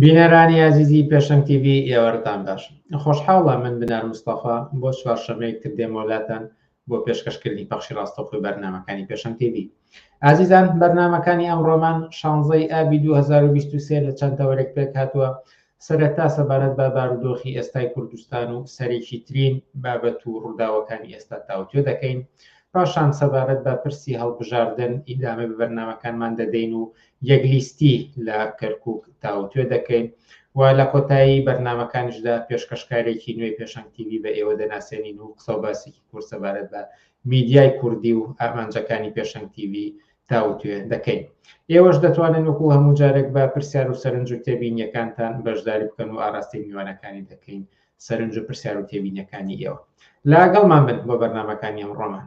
بینەرانی ئازیزی پێشەنگ تیڤی ئێوارەتان باش خۆشحاڵە من بنار مستەفا بۆ چوارشەمەیەک تر دێمە وەلاتان بۆ پێشکەشکردنی پەخشی ڕاستەوخۆی بەرنمەکانی پێشەنگ تیڤی ئازیزان بەرنمەکانی ئەم ڕۆمان شانزەی ئابی 2023 لە چەند تەوەرێک پێک هاتووە سەرەتا سەبارەت بە بارودۆخی ئێستای کوردستان و سەرێکی ترین بابەت و ڕووداوەکانی ئێستا تاوتێ دەکەین پاشان سەبارەت بە پرسی هەڵبژاردن ئیدامە بە بەرنمەکانمان دەدەین و یەک لیستی لە کەرکوک تاوتوێ دەکەین و لە کۆتایی بەرنامەکانیشدا پێشکەشکارێکی نوێی پێشەنگ تیوی بە ئێوە دەناسێنین و قسە و باسێکی کورت سەبارەت بە میدیای کوردی و ئامانجەکانی پێشەنگ تیوی تاوتوێ دەکەین ئێوەش دەتوانن وەکو هەموو جارێک بە پرسیار و سەرنج و تێبینیەکانتان بەشداری بکەن و ئاراستەی میوانەکانی دەکەین سەرنج و پرسیار و تێبینەکانی ئێوە لاگەڵمان بن بۆ بەرنمەکانی ئەم ڕۆمان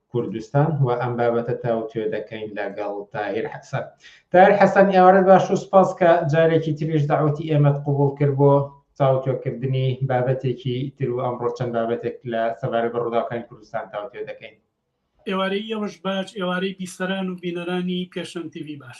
کوردستان و ئەم بابەتە تاوتوێ دەکەین لەگەڵ تاهیر حەسەن تاهیر حەسەن ئێوارە باش و سپاس کە جارێکی تریش داوەتی ئێمەت قوبول کرد بۆ تاوتوێکردنی بابەتێکی تر و ئەمڕۆ چەند بابەتێک لە سەبارە بە ڕووداوەکانی کوردستان تاوتوێ دەکەین ئێوارەی ئێوەش باش ئێوارەی بیسەران و بینەرانی پێشەنگ تیوی باش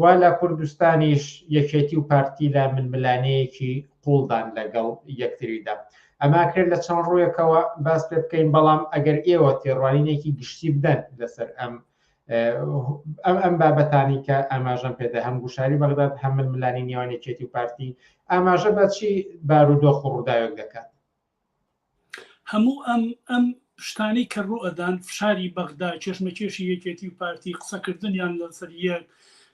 وا لە کوردستانیش یەکێتی و پارتی لە ململانێیەکی قووڵدان لەگەڵ یەکتریدا. ئەمە کرێ لە چەند ڕوویەکەوە باس پێ بکەین، بەڵام ئەگەر ئێوە تێڕوانینێکی گشتی بدەن لەسەر ئەم ئەم بابەتانی کە ئاماژەم پێدا هەم گوشاری بەغداد هەم ململانی نێوان یەکێتی و پارتی ئاماژە بە چی بارودۆخ و ڕووداوێک دەکات؟ هەموو ئەم ئەم شتانەی کە ڕوو ئەدان فشاری بەغدا کێشمەکێشی یەکێتی و پارتی قسەکردنیان لەسەر یەک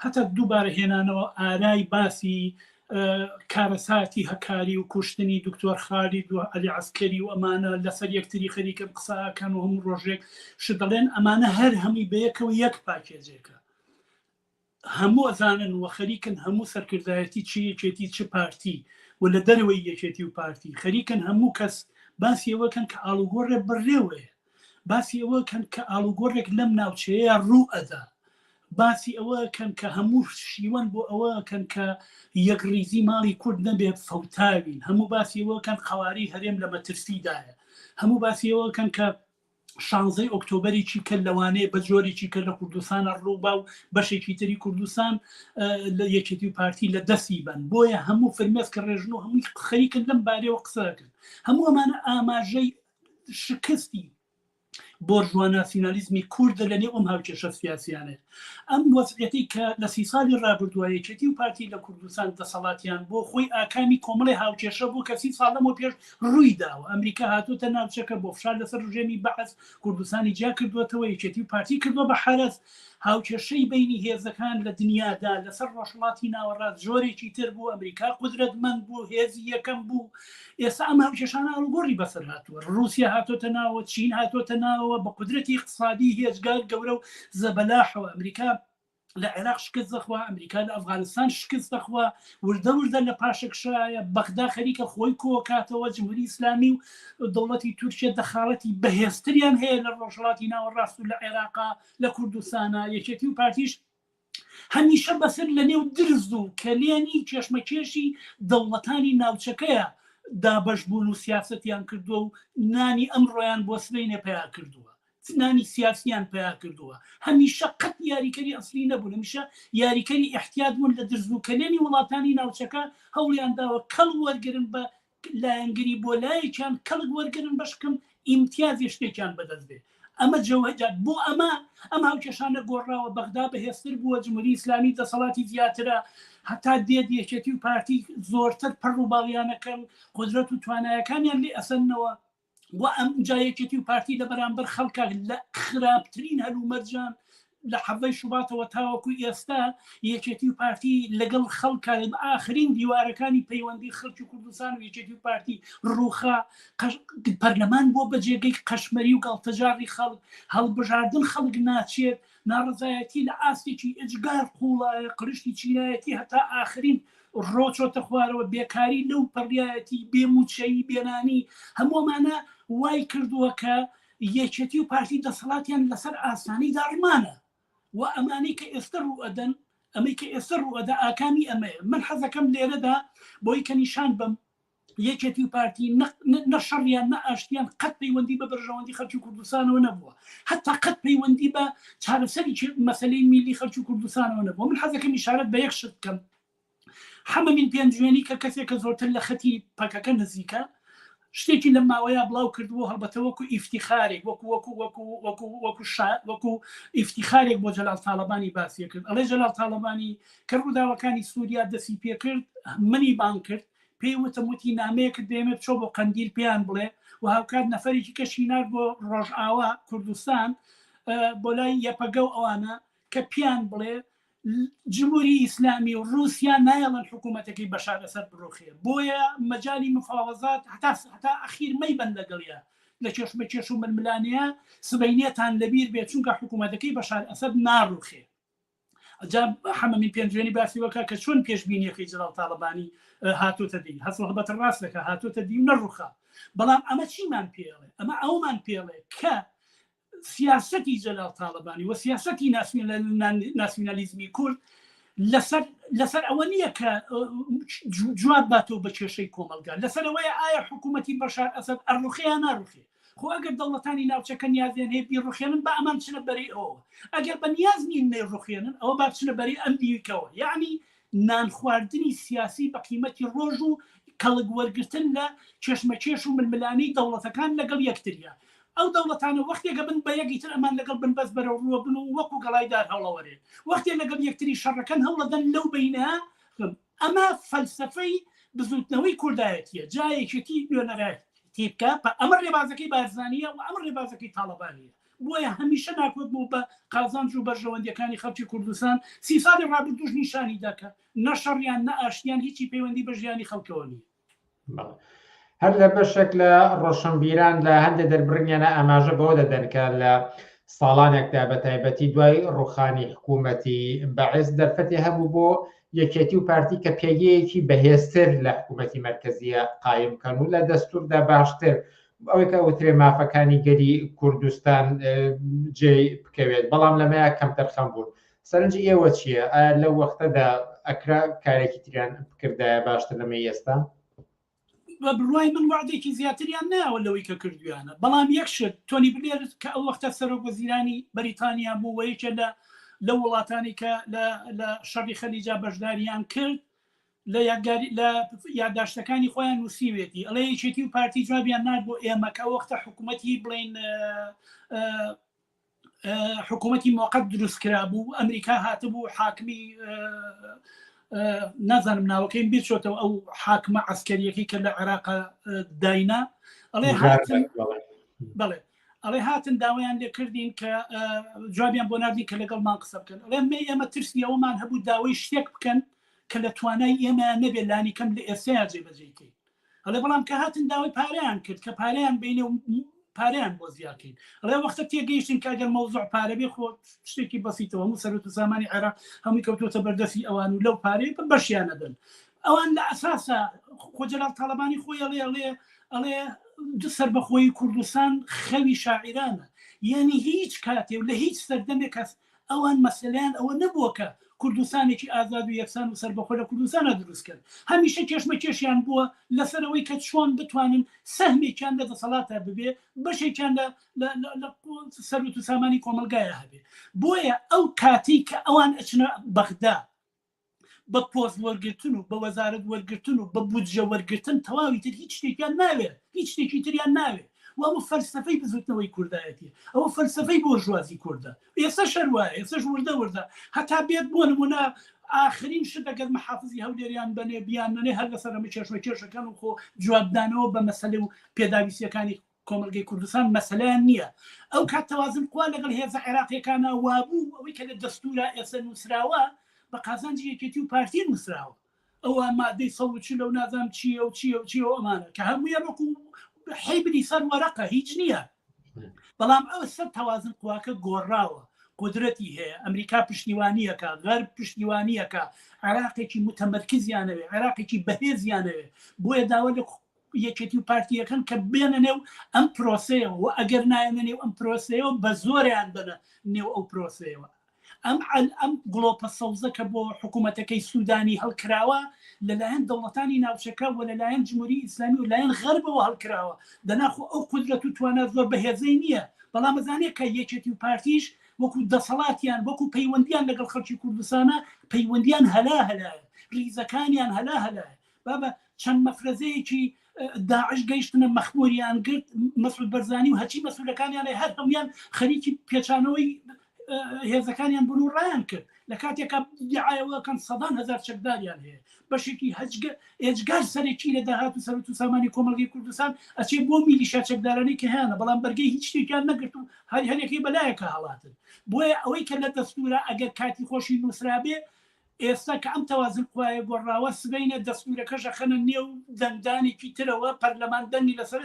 هەتا دووبارە هێنانەوە ئارای باسی کارەساتی هەکاری و کوشتنی دکتۆر خالی دو علی عسکەری و ئەمانە لەسەر یەکتری خەریکەم قساکەن و هەموو ڕۆژێک شدەڵێن ئەمانە هەر هەمووی بەیەکەوە یەک پاکێجێکە هەموو ئەزانن و خەریکن هەموو سەرکردایەتی چ یەکێتی چ پارتی و لە دەرەوەی یەکێتی و پارتی خەریکن هەموو کەس باسی ئەوە کەن کە ئاڵوگۆڕێ بڕێوەیە باسی ئەوە کەن کە ئاڵوگۆڕێک لەم ناوچەیە ڕوو ئەدا باسی ئەوە کەن کە هەموو شیوەن بۆ ئەوە کەن کە یەک ریزی ماڵی کورد نەبێت فەوتاوین هەموو باسی ئەوە کەن قواری هەرێم لە مەترسیدایە هەموو باسی ئەوە کەن کە شانزەی ئۆکتۆبەرێکی کە لەوانەیە بە جۆرێکی کە لە کوردستانە ڕووبا و بەشێکی تری کوردستان لە یەکێتی و پارتی لە دەستی بن بۆیە هەموو فرمێس کە ڕێژن و هەمووی خەریکن لەم بارەوە قسەکرد هەموو ئەمانە ئاماژەی شکستی بۆرژوا ناسیۆنالیزمی کوردە لە نێو ئەم هاوکێشە سیاسیانێت ئەم وەزعەتی کە لە سی ساڵی ڕابردوایەکێتی و پارتی لە کوردستان دەسەڵاتیان بۆ خۆی ئاکامی کۆمەڵی هاوکێشە بوو کەسی ساڵەمەوە پێش ڕووی داوە ئەمریکا هاتوتە ناوچەکە بۆ فشار لەسەر ڕژێمی بەعس کوردستانی جیا کردوێتەوە یەکێتی و پارتی کردوە بە حرس هاوکێشەی بینی هێزەکان لە دنیادا لەسەر ڕۆژڵاتی ناوەڕاست زۆرێکی تر بوو ئەمریکا قدرەتمەند بوو هێزی یەکەم بوو ئێستا ئەم هاوکێشانە ئاڵگۆڕی بەسەر هاتووە رووسیا هاتۆتە ناوە چین هاتۆتە ناوە بە قدرەتی اقتصادی هێزگار گەورە و زەبەلاحەوە ئەمریکا لە عێراق شکست دەخوا، ئەمریکا لە ئەفغانستان شکست دەخوا، وردە وردە لە پاشەکشەیە، بەغدا خەریکە خۆی کۆکاتەوە، جمهوری ئیسلامی و دەوڵەتی تورکیە دەخاڵەتی بەهێزتریان هەیە لە ڕۆژهەڵاتی ناوەڕاست و لە عێراقا، لە کوردستانا، یەکێتی و پارتیش هەمیشە بەسەر لە نێو درز و کەلێنی کێشمەکێشی دەوڵەتانی ناوچەکەیە دابەش بوون و سیاسەتیان کردووە و نانی ئەمڕۆیان بۆ سبەینێ پەیا کردووە. زنانی سیاسیان پەیا کردووە هەمیشە قەت یاریکەری ئەسلی نەبوون هەمیشە یاریکەری ئیحتیات بوون لە درز و کەلێنی وڵاتانی ناوچەکە هەوڵیان داوە کەڵ وەرگرن بە لایەنگری بۆ لایەکیان کەڵک وەرگرن بەشکم ئیمتیازی شتێکیان بەدەست بێ ئەمە جەوهجات بۆ ئەمە ئەم هاوکێشانە گۆڕاوە بەغدا بەهێزتر بووە جمهوری ئیسلامی دەسەڵاتی زیاترە هەتا دێت یەکێتی و پارتی زۆرتر پەڕ و باڵیانەکەن قدرەت و توانایەکانیان لێ ئەسەنەوە و ئەم جا یەکێتی و پارتی لە بەرامبەر خەڵکە لە خراپترین هەلومەرجان لە حەڤەی شوباتەوە تاوەکو ئێستا یەکێتی و پارتی لەگەڵ خەڵکە ئاخرین دیوارەکانی پەیوەندی خەڵکی کوردستان و یەکێتی و پارتی ڕوخا پەرلەمان بۆ بەجێگەی قەشمەری و گەڵتەجاری خەڵک هەڵبژاردن خەڵک ناچێت ناڕەزایەتی لە ئاستێکی ئێجگار قوڵایە، قرشتی چینایەتی هەتا ئاخرین ڕۆ چۆتە خوارەوە، بێکاری لەو پەڕیایەتی، بێ مووچەیی، بێ نانی، هەموو ئەمانە وای کردووە کە یەکێتی و پارتی دەسەڵاتیان لەسەر ئاستانەی داڕمانە و ئەمانەی کە ئێستە ڕووئەدەن، ئەمەی کە ئێستە ڕووئەدا ئاکامی ئەمەیە. من حەزەکەم لێرەدا بۆی کە نیشان بەم یەکێتی و پارتی نەشەڕیان نە ئاشتیان قەت پەیوەندی بە بەرژەوەندی خەلکی کوردستانەوە نەبووە هەتا قەت پەیوەندی بە چارەسەری مەسلەی میلی خەلکی کوردستانەوە نەبووە من حەزەکە میشارەت بە یەک شت بکەم حەمەمین پێنجوێنی کە کەسێک کە زۆرتر لە خەتی پەکەکە نزیکە شتێکی لە ماوەیە بڵاو کردبوو هەڵبەتە وەکو ئیفتیخارێک وەکو وەکو وەکو وەکو وەکو وەکو ئیفتیخارێک بۆ جەلال تاالبانی باسیە کرد ئەڵێ جەلال تاالبانی کە ڕووداوەکانی سووریا دەسی پێکرد منی بان کرد پێی وتم وتی نامەیەکت دێمێ بچۆ بۆ قەندیل پێیان بڵێ و هاوکات نەفەرێکی کەشی نار بۆ ڕۆژئاوا کوردستان بۆ لای یەپەگە و ئەوانە کە پیان بڵێ جمهوری ئیسلامی و رووسیا نایڵن حکوومەتەکەی بەشار لەسەر بڕۆخێ بۆیە مەجای مفاوەزات هەتا هەتا ئەخیر مەی بند لەگەڵە لە کێشمە کێش و ململانەیە سبینەتان لەبیر بێت چونکە حکوومەتەکەی بەشار ئەسد ناڕوخێ جا حەمە من پێنجوێنی باسی وەکە کە چۆن پێشبینیەکەی جەڵاو تاڵەبانی هاتۆتە دی هەست هەڵبەت ڕاست دەکە هاتۆتە دی و نەڕوخا بەڵام ئەمە چیمان پێڵێ ئەمە ئەومان پێڵێ کە سیاستی جەلاو تاالبانی و سیاستی ناسیۆنالیزمی کورد لەسەر ئەوە نییە کە جواب باتەوە بە کێشەی کۆمەلگا لەسەرەوەی ئایا حکوومەتی بەشار ئەسد ئەرلوخەیە ناروخێ خۆ ئەگەر دەوڵەتانی ناوچەکە نیازیان هەیە بیڕوخێنن با ئەمان بچنە بەرەی ئەوەوە، ئەگەر بە نیاز نین نەیڕوخێنن ئەوە با بچنە بەرەی ئەم دیکەوە، یەعنی نان خواردنی سیاسی بە قیمەتی ڕۆژ و کەڵک وەرگرتن لە کێشمەکێش و ململانێی دەوڵەتەکان لەگەڵ یەکتریە. ئەو دەوڵەتانە وەختێک ئەبن بە یەک ئیتر ئەمان لەگەڵ بن بەس بەرەوڕووە بن و وەکو گەڵای دار هەوڵەوەرێن وەختێ لەگەڵ یەکتری شەڕەکەن هەوڵەدەن لەو بەینە ئەمە فەلسەفەی بزووتنەوەی کوردایەتییە، جا یەکێتی نوێنەرایەتی بکات، ئەمە ڕێبازەکەی بارزانییە و ئەمە ڕێبازەکەی تاڵەبانییە. بۆیە هەمیشە ناکۆک بوو بە قازانج و بەرژەوەندییەکانی خەڵکی کوردستان، سی ساڵی ڕابردووش نیشانیدا کە نە شەڕیان، نە ئاشتییان هیچی پەیوەندی بە ژیانی خەڵکەوە نییە. هەر لە بەشێک لە ڕۆشنبیران لە هەندێک دەربڕینیانە ئاماژە بەوە دەدەن کە لە ساڵانێکدا بە تایبەتی دوای ڕوخانی حکوومەتی بەعێز دەرفەتی هەبوو بۆ یەکێتی و پارتی کە پێگەیەکی بەهێزتر لە حکوومەتی مرکزیە قایم کەن و لە دەستوردا باشتر ئەوەی کە وترێ مافەکانی گەری کوردستان جێ بکەوێت بەڵام لەمەیە کەم تەرخەم بوون سەرنجی ئێوە چیە؟ ئایا لەو وەختەدا ئەکرا کارێکی تریان بکردایە باشتر لەمەی ئێستا؟ بە بڕوای من وەعدێکی زیاتریان ناوە لەوەی کە کردویانە، بەڵام یەک شت، تۆنی بلێر کە ئەو وەختە سەرۆک وەزیرانی بەریتانیا بوو و یەکێ لە لەو وڵاتانی کە لە شەڕی خەلیجا بەشداریان کرد، لە یادگاری لە یاداشتەکانی خۆیان نووسیوێتی ئەڵێ یەکێتی و پارتی جوابیان نار بۆ ئێمە کە وەختە حکوومەتی بڵین حکوومەتی مۆقت دروست کرا بوو ئەمریکا هاتبوو حاکمی نازانم ناوەکەیم بیرچۆتەوە ئەو حاکمە عسکەریەکەی کە لە عێراق داینا ئەڵێ بڵێ ئەڵێ هاتن داوایان لێ کردین کە جوابیان بۆ نردین کە لەگەڵمان قسە بکەن ئەڵێ مێ ئێمە ترسی ئەومان هەبوو داوای شتێک بکەن کە لە توانای ئێمە نەبێت لانی کەم لە ئێستا جێبەجێکەین ئەڵێ بەڵام کە هاتن داوای پارەیان کرد کە پارەیان بینێ و پارەیان بۆ زیاکەین ئەڵێ وەختە تێگەیشتین کە گەر مەوزوع پارەبێ خۆ شتێکی بەسیتەوە هەموو سەرۆت و سامانی عێراق هەمووی کەوتوتە بەردەسی ئەوان و لەو پارەیە بە بەشیانەدەن ئەوان لە ئەساسە خۆجلال تاالبانی خۆی ئەڵێ ئەڵێ ئەڵێ سەر بەخۆی کوردستان خەوی شاعرانە یعنی هیچ کاتێ و لە هیچ سەردەمێک هەست ئەوان مەسەلەیان ئەوە نەبووە کە کوردستانێکی ئازاد و یەکسان و سەربەخۆ لە کوردستانا دروست بکەن، هەمیشە کێشمەکێشیان بووە لەسەر ئەوەی کە چۆن بتوانن سەهمێکیان لە دەسەڵاتا ببێ، بەشێکیان لە لە سەروەت و سامانی کۆمەڵگایا هەبێ. بۆیە ئەو کاتەی کە ئەوان ئەچنە بەغدا، بە پۆست وەرگرتن و بە وەزارەت وەرگرتن و بە بودجە وەرگرتن تەواوی تر هیچ شتێکیان ناوێ هیچ شتێکی تریان ناوێ و ئەوە فەلسەفەی بزوتنەوەی کوردایەتیە ئەوە فەلسەفەی بۆرژوازی کوردە ئێسەش هەر وایە ئێسەش وردە وردە هەتا بێت بۆ نمونە ئاخرین شت ئەگەر محافزی هەولێریان بەنێ بیان نەنێ هەر لەسەرەمە کێشمەکێشەکەن و خۆ جوابدانەوە بە مەسەلە و پێداویستیەکانی کۆمەڵگەی کوردستان مەسەلەیان نییە ئەو کات تەوازن قوا لەگەڵ هێزە عێراقیەکانا وابوو ئەوەی کە لە دەستورا ئێستا نووسراوە بە قازانجی یەکێتی و پارتی نووسراوە ئەوە مادەی سەد و چل و نازانم چییە و چییە و چییە و ئەمانە کە هەموویە وەکو حیبری سەر وەرەقە هیچ نییە بەڵام ئەوە سەر تەوازن قواکە گۆڕاوە قدرەتی هەیە ئەمریکا پشتیوانیەکە غەر پشتیوانیەکە عێراقێکی متەمەرکزیانەوێ عێراقێکی بەهێزیانەوێ بۆیە داوا لە یەکێتی و پارتی یەکەن کە بێنە نێو ئەم پرۆسەیەوە و ئەگەر نایەنە نێو ئەم پرۆسەیەوە بە زۆریان بەە نێو ئەو پرۆسەیەوە ئەم عل ئەم گڵۆپە سەوزە کە بۆ حکوومەتەکەی سوودانی هەڵکراوە لەلایەن دەوڵەتانی ناوچەکە و لەلایەن جمهوری ئیسلامی و لایەن غەربەوە هەڵکراوە دەناخۆ ئەو قدرەت و توانا زۆر بەهێزەی نییە بەڵام مەزانێت کە یەکێتی و پارتیش وەکو دەسەڵاتیان وەکو پەیوەندیان لەگەڵ خەڵکی کوردستانە پەیوەندیان هەلا هەلایە ریزەکانیان هەلا هەلایە با بە چەند مەفرەزەیەکی داعش گەیشتنە مەخموریان گرت مەسعود بەرزانی و هەچی مەسولەکانیانێ هەر هەمویان خەریکی پێچانەوەی هێزەکانیان بن و ڕایان کرد لە کاتێکا دیعاەوەکەن سەدان هزار چەکداریان هەیە بەشێکی هەجگە ئێجگار سەرەکی لە داهات و سەرت و سامانی کۆمەلگەی کوردستان ئەچێ بۆ میلیشا چەکدارانی کە هیانە بەڵام بەرگەی هیچ شتێکیان نەگرت و هەر هەرێکی بەلایەکە هەڵاتن بۆیە ئەوەی کە لە دەستورە ئەگەر کاتی خۆشی نووسرابێ ئێستا کە ئەم تەوازن قوایە گۆڕراوە سبەینێ دەستورەکەش ئەخەنە نێو دەنگدانێکی ترەوە پەرلەمان دەنگی لەسەر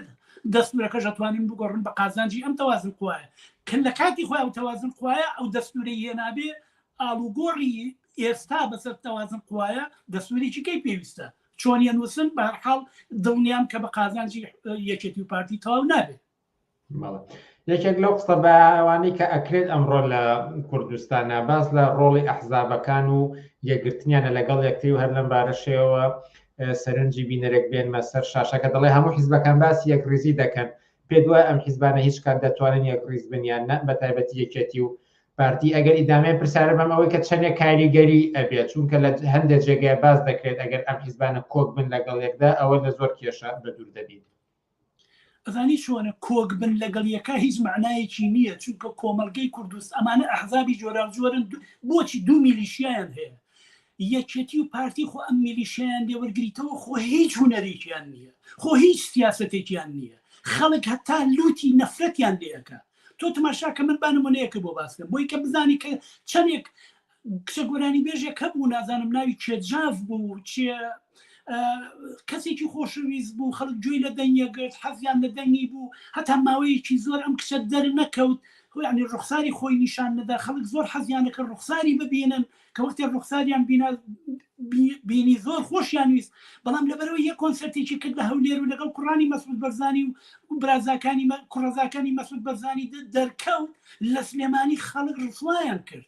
دەستورەکەش ئەتوانن بگۆڕن بە قازانجی ئەم تەوازن قوایە کە لە کاتی خۆی ئەو تەوازن قوایە ئەو دەستورەی هێنابێ ئاڵوگۆڕی ئێستا بەسەر تەوازن قوایە دەسوورێکی کەی پێویستە چۆنیە نووسن بەرحاڵ دڵنیام کە بە قازانجی یەکێتی و پارتی تەواو نابێت یەکێک لەو قسە بەوانەی کە ئەکرێت ئەمڕۆ لە کوردستانە باس لە ڕۆڵی ئەحزابەکان و یەکگرتنیانە لەگەڵ یەکتری و هەر لەم بارەشەوە سەرنجی بینەرێک بێنمە سەر شاشەکە دەڵێ هەموو حیزبەکان باسی یەک ریزی دەکەن پێ دوای ئەم حیزبانە هیچ کات دەتوانن یەک ریز بنیان نە بە تایبەتی یەکێتی و پارتی ئەگەر ئیدامێ پرسیارە بەم ئەوەی کە چەندێک کاریگەری ئەبێت چونکە لە هەندێک جێگای باز دەکرێت ئەگەر ئەم حیزبانە کۆک بن لەگەڵ یەکدا ئەوە لە زۆر کێشە بە دوور دەبیت ئەزانی چۆنە کۆک بن لەگەڵ یەکا هیچ مەعنایەکی نییە چونکە کۆمەڵگەی کوردست ئەمانە ئەحزابی جۆراوجۆرن بۆچی دوو میلیشیایان هەیە یەکێتی و پارتی خۆ ئەم میلیشیان لێوەرگریتەوە خۆ هیچ هوەرێکیان نییە خۆ هیچ سیاستێکیان نییە خەڵک هەتا لوتی نەفرەتیان لەکە تۆ تماشاکە من بانمونەیەکە بۆ باسکەم بۆی کە بزانی کە چەندێک کچە گۆرانیبێژێک هەبوو نازانم ناوی چێ جاف بوو چێ کەسێکی خۆشەویست بوو خەڵک گوێی لە دەنگە گرت حەزیان لە دەنگی بوو هەتا ماوەیەکی زۆر ئەم کچە دەر نەکەوت ینی ڕوخساری خۆی نیشان نەدا خەڵک زۆر حەزیانەکە ڕوخساری ببینن کە وەختێک ڕوخساریان بینا بینی زۆر خۆشیان ویست بەڵام لەبەرەوە یە کۆنسرتێکی کرد لە هەولێر و لەگەڵ کوڕانی مەسود بەرزانی و برازاکانی کوڕزاکانی مەسود بەرزانی دەرکەوت لە سلێمانی خەڵک ڕسوایان کرد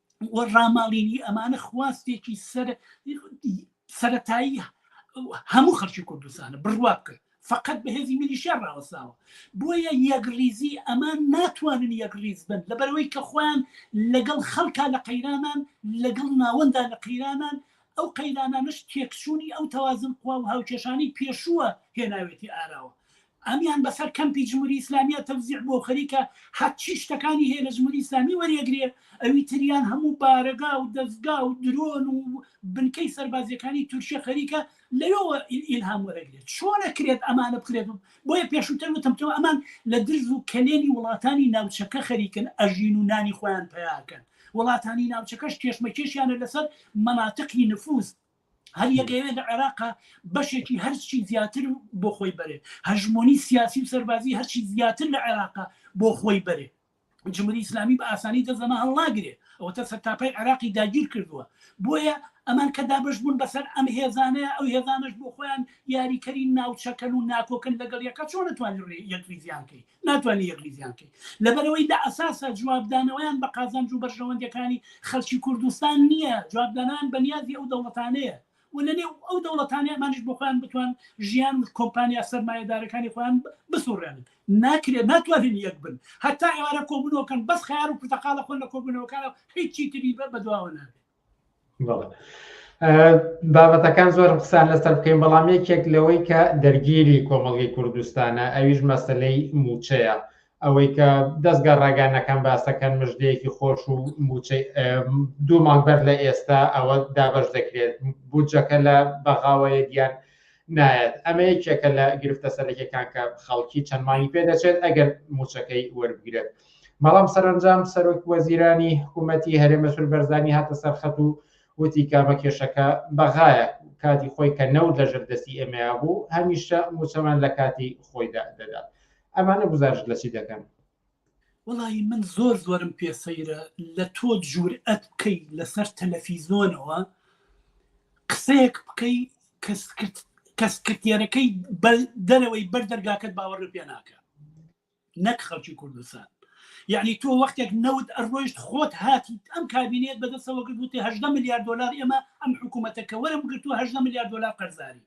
و ڕاماڵینی ئەمانە خواستێکی سەر سەتایی هەموو خەرکی کوردستانە بڕوا بکە فقط بەهێزی میلیشیا ڕاوەساوە بۆیە یەکڕیزی ئەمان ناتوانن یەکڕیز بن لەبەرەوەی کە خۆیان لەگەڵ خەڵکا لە قەیرانان لەگەڵ ناوەندا لە قەیرانان ئەو قەیرانانش تێکچوونی ئەو تەوازن خوا و هاوکێشانی پێشووە هێناوێتی ئاراوە ئەمیان بەسەر کەمپی جموری ئیسلامیا تەوزیع بوەو خەریکە هەرچی شتەکانی هەیە لە جموری ئیسلامی وەریەگرێ ئەوی تریان هەموو بارەگا و دەزگا و درۆن و بنکەی سەربازیەکانی تورکیە خەریکە لەوێوە ئیلهام وەرەگرێت چۆن ئەکرێت ئەمانە بکرێت بۆیە پێشوتر وتم تۆ ئەمان لە درز و کەلێنی وڵاتانی ناوچەکە خەریکن ئەژین و نانی خۆیان پەیاکەن وڵاتانی ناوچەکەش کێشمەکێشیانە لەسەر مەناتقی نفوزد. هەر یەکەوێ لە عێراقا بەشێکی هەرچی زیاتر بۆ خۆی بەرێت هەژمۆنی سیاسی و سەربازی هەرچی زیاتر لە عێراقا بۆ خۆی بەرێت جمهوری ئیسلامی بە ئاسانی دەزەمە هەڵناگرێ ئەوە تا سەرتاپای عێراقی داگیر کردووە بۆیە ئەمان کە دابش بوون بەسەر ئەم هێزانەیە ئەو هێزانەش بۆ خۆیان یاریکەری ناوچەکەن و ناکۆکن لەگەڵ یەکە چۆن توانانی یەکریزیان کەی ناتوانی یەک ریزیان کەی لەبەرەوەی لە ئەساسا جوابدانەوەیان بە قازانج و بەرژەوەندیەکانی خەلکی کوردستان نیە جوابدانان بە نیازی ئەو دەوڵەتانەیە و لە نێو ئەو دەوڵەتانەیە ئەمانیش بۆ خۆیان بتوان ژیان و کۆمپانیا سەرمایەدارەکانی خۆیان بسوڕێنن ناکرێت ناتوانن یەک بن هەتا ئێوارە کۆبونەوەکەن بەس خەیار و پرتەقالە خۆن لە کۆبونەوەکانەوە هیچی تری بە بەدواوە نابێت بابەتەکان زۆر قسان لەسەر بکەین بەڵام یەکێک لەوەی کە دەرگیری کۆمەڵگەی کوردستانە ئەویش مەسلەی موچەیە ئەوەی کە دەستگا ڕاگەانەکان باسەکەن مژدەیەکی خۆش و موچەی دوو مانگبەر لە ئێستا ئەوە دابش دەکرێت بودجەکە لە بەغاوەیە دیان نایەت ئەمە یەکێکە لە گرفتە سەرەکەکان کە خەڵکی چەندمانی پێ دەچێت ئەگەر موچەکەی وەربگرێت. بەڵام سەرەنجام سەرۆک وەزیرانی حکوومەتی هەرێ مەسول بەرزانی هاتە سەرخەت و وتی کامە کێشەکە بەغایە کاتی خۆی کە نەوت لە ژەر دەستی ئێمەیا بوو هەمیشە موچەمان لە کاتی خۆیدا دەدات ئەمانە گزارش لە چی دەکەن وڵی من زۆر زۆرم پێسەیرە لە تۆ جوور ئەت بکەی لەسەر تەلەفیزۆنەوە قسەیەک بکەی کەسکرد کەسکرتێرەکەی دەرەوەی بەر دەرگاکەت باوەڕ پێ ناکە نەک خەڵکی کوردستان یعنی تۆ وەختێک نەوت ئەڕۆیشت خۆت هاتیت ئەم کابینێت بەدەستەوە کرد وتی هە ملیار دلار ئێمە ئەم حکوومەتەکە وەرم گرتو هە ملیار دلار قەرزاری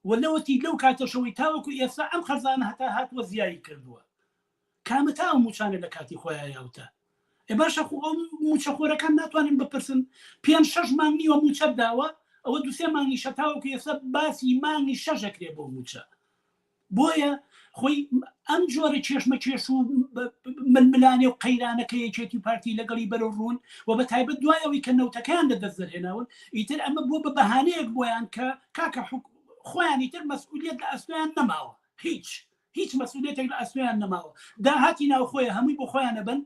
و لەوەتی لەو کاتەشەوەی تاوەکو ئێستا ئەم خەرزانە هەتا هاتووە زیایی کردووە کامەتا ئەو موچانە لە کاتی خۆیان یاوتە ئێ باشە خۆ ئەو موچەخۆرەکان ناتوانین بپرسن پێنج شش مانگ نیوە موچەت داوە ئەوە دوسێ مانگی شەتاوەکو ئێستا باسی مانگی شەژەکرێ بۆ موچە بۆیە خۆی ئەم جۆرە کێشمەکێش و ململانێ و قەیرانە کە یەکێتی و پارتی لەگەڵی بەرەو ڕوون و بە تایبەت دوای ئەوی کە نەوتەکەیان لە دەست دەرهێناون ئیتر ئەمە بووە بە بەهانەیەک بۆیان کە کاکە خۆیانی تر مەسئولیت لە ئەستۆیان نەماوە هیچ هیچ مەسئولیتێک لە ئەستۆیان نەماوە داهاتی ناوخۆیە هەمووی بۆ خۆیانە بن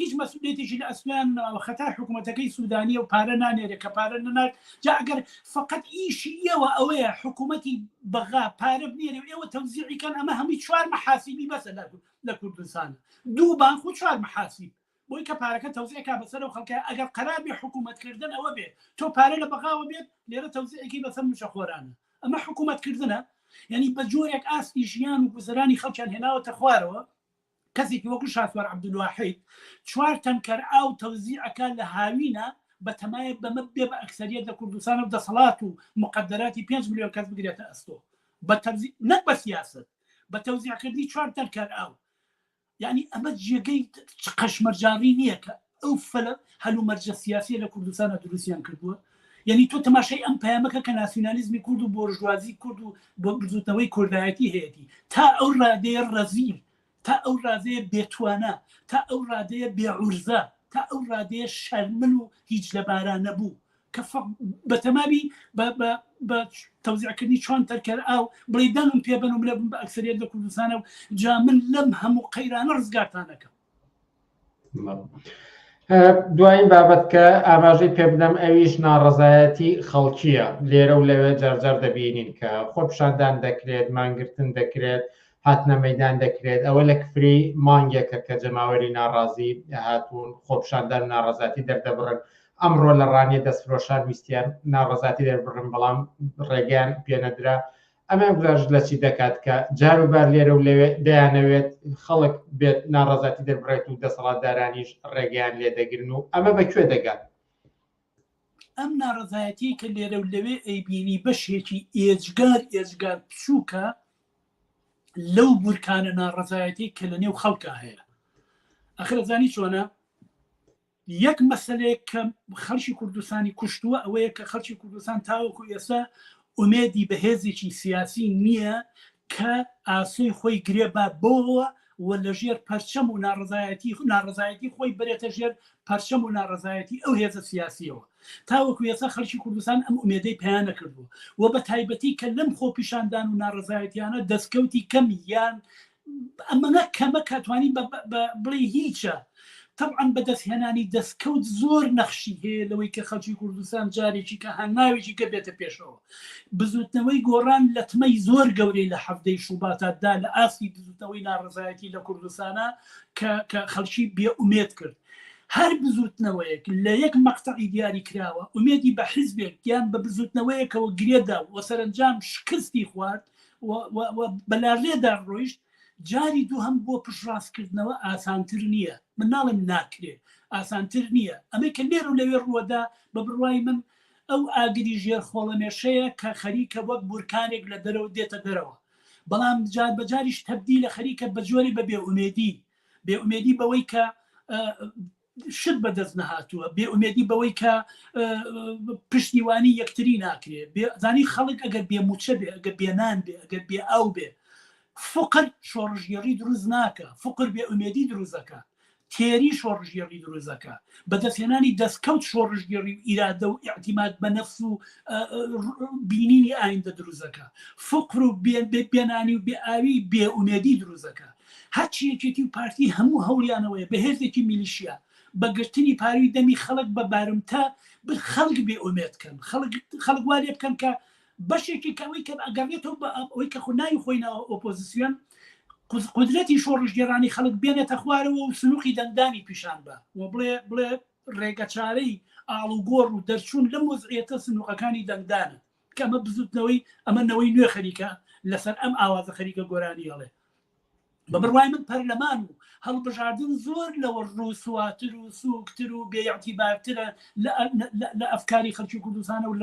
هیچ مەسئولیەتێکی لە ئەستۆیان نەماوە خەتای حکومەتەکەی سودانیە و پارە نانێرێ کە پارە نەنارد جا ئەگەر فەقەت ئیشی ئێوە ئەوەیە حکومەتی بەغا پارە بنێرێ و ئێوە تەوزیعی کەن ئەمە هەمووی چوار محاسیبی بەسە لە کوردستان دوو بانک و چوار محاسیب بۆی کە پارەکە تەوزیع کا بەسەر و خەڵکە ئەگەر قەرار بێ حکومەت کردن ئەوە بێ تۆ پارە لە بەغاوە بێت لێرە تەوزیعێکی بەسەر موچە خۆرانە ئەمە حکومەت کردنە یعنی بە جۆرێک ئاستی ژیان و گوزەرانی خەڵکیان هێناوەتە خوارەوە کەسێکی وەکو شاسوار عەبدولواحید چوار تەنکەر ئاو تەوزیع ئەکات لە هاوینە بەتەمایە بەمە بێ بە ئەکسەریەت لە کوردستان و دەسەڵات و موقەدەراتی پێنج ملیۆن کەس بگرێتە ئەستۆ بە تەوزیع نەک بە سیاسەت بە تەوزیع کردنی چوار تەنکەر ئاو یانی ئەمە جێگەی چ قەشمەرجاڕی نییە کە ئەو فلە هەلومەرجە سیاسیە لە کوردستانا دروستیان کردووە یەنی تۆ تەماشای ئەم پەیامەکە کە ناسیونالیزمی کورد و بۆرژوازی کورد و بۆ بزوتنەوەی کوردایەتی هەیەتی تا ئەو ڕادەیە ڕەزیل تا ئەو ڕادەیە بێتوانە تا ئەو ڕادەیە بێعورزە تا ئەو ڕادەیە شەرمن و هیچ لەباران نەبوو کە بە تەماوی بە تەوزیعکردنی چۆن تەرکەر ئاو بڵی دەنگم پێبن و منە بم بە ئەکسریت لە کوردستانە و جا من لەم هەموو قەیرانە ڕزگارتانەکەم دوایین بابەت کە ئاماژەی پێ بدەم ئەویش ناڕەزایەتی خەڵکیە لێرە و لەوێ جارجار دەبینین کە خۆپشاندان دەکرێت مانگرتن دەکرێت هاتنە مەدان دەکرێت ئەوە لە کفری مانگێکە کە جەماوەری ناڕازی هاتوون خۆپشاندان ناڕەزاتی دەردەبڕن ئەمڕۆ لە ڕانیە دەستفرۆشان ویستیان ناڕەزاتی دەربڕن بەڵام ڕێگەیان پێنەدرا ئەمە گوزارشت لە چی دەکات کە جاروبار لێرە و لەوێ دەیانەوێت خەڵک بێت ناڕەزاتی دەربڕێت و دەسەڵاتدارانیش ڕێگەیان لێ دەگرن و ئەمە بە کوێ دەگات؟ ئەم ناڕەزایەتی کە لێرە و لەوێ ئەیبینی بەشێکی ئێجگار ئێجگار بچووکە لەو بورکانە ناڕەزایەتی کە لە نێو خەڵکە هەیە ئەخرەزانی چۆنە یەک مەسەلەیەک کە خەڵکی کوردستانی کوشتووە ئەوەیە کە خەڵکی کوردستان تاوەکو ئێستا ئومێدی بەهێزێکی سیاسی نییە کە ئاسۆی خۆی گرێ با بۆەوە و لەژێر پەرچەم و ناڕزایەتی ناڕزایەتی خۆی برێتە ژێر پەرچەم و ناڕزایەتی ئەو هێزە سیاسیەوە تاوەکو ێسا خەرکی کوردستان ئەم ئومێدەی پێیانە کردووە و بە تایبەتی کە لەم خۆپیشاندان و ناڕزایەتیانە دەستکەوتی کەم یان ئەمەە کەمە کا توانی بڵێ هیچە تەبعەن بەدەست هێنانی دەستکەوت زۆر نەخشی هەیە لەوەی کە خەڵکی کوردستان جارێکی کە هەنگاوێکی کە بێتە پێشەوە بزوتنەوەی گۆڕان لەتمەی زۆر گەورەی لە حەفتەی شوباتاتدا لە ئاستی بزوتنەوەی ناڕزایەتی لە کوردستانە کە خەڵکی بێ ئومێت کرد. هەر بزوتنەوەیەک لە یەک مەقتەعی دیاری کراوە ئومێدی بە حزبێک یان بە بزوتنەوەیەکەوە گرێدا و سەرنجام شکستی خوارد بەلارێدا ڕۆیشت جاری دوو هەم بۆ پشڕاستکردنەوە ئاسانتر نییە من ناڵێم ناکرێ ئاسانتر نییە ئەمە کە لێر و لەوێ ڕووەدا بە بڕوای من ئەو ئاگری ژێر خۆڵەمێشەیە کە خەریکە وەک بورکانێک لە دەرەوە دێتە دەرەوە بەڵام جار بەجاریش تەبدی لە خەریکە بە جۆری بە بێئومێدی بێئومێدی بەوەی کە شت بەدەست نەهاتووە، بێ ئومێدی بەوەی کە پشتیوانی یەکتری ناکرێ، بێ زانی خەڵک ئەگەر بێ مووچە بێ، ئەگەر بێ نان بێ، ئەگەر بێ ئاو بێ، فقر شۆڕشگێڕی دروست ناکا، فقر بێ ئومێدی دروست دەکا، تێری شۆڕشگێڕی دروست دەکا، بەدەستهێنانی دەستکەوت شۆڕشگێڕی و ئیرادە و ئیعتیماد بە نەفس و بینینی ئایندە دروست دەکا، فقر و بێ بێ نانی و بێ ئاوی بێ ئومێدی دروست دەکا. هەرچی یەکێتی و پارتی هەموو هەوڵیان ئەوەیە بە هێزێکی میلیشیا بە گرتنی پاروی دەمی خەڵک بە بارمتە بر خەڵک بێ ئۆمێد کەن خەڵک خەڵک وا لێ بکەن کە بەشێکی کە ئەوەی کە ئەگەڕێتەوە بە ئەپ ئەوەی کە خۆ ناوی خۆی ناوە ئۆپۆزیسیۆن قز- قدرەتی شۆڕشگێڕانی خەڵک بێنێتە خوارەوە و سنووقی دەنگدانی پیشان بە و بڵێ بڵێ ڕێگە چارەی ئاڵوگۆڕ و دەرچوون لەم وەزعیەتە سنووقەکانی دەنگدانە کە ئەمە بزوتنەوەی ئەمە نەوەی نوێ خەریکە لەسەر ئەم ئاوازە خەریکە گۆرانی هەڵێ بە بڕوای من پەرلەمان و هەڵبژاردن زۆر لەوە ڕووسواتر و سوکتر و بێعتیبارترە لە ئەفکاری خەلکی کوردستانە و